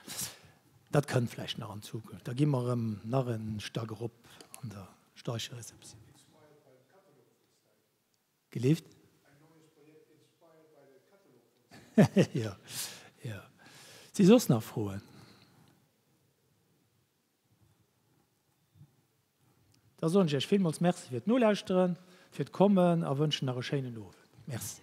[SPEAKER 1] Dat kënnt vläicht nach an Zukunft. Da gi mer erëm nach e Stack erop an der Steichereceptioun. Gelift? Jo, jo. Si soss nach Froen? Da soen ech iech villmools Merci fir d'Nolauschteren, fir d'Kommen a wënschen nach e schéinen Owend. Merci.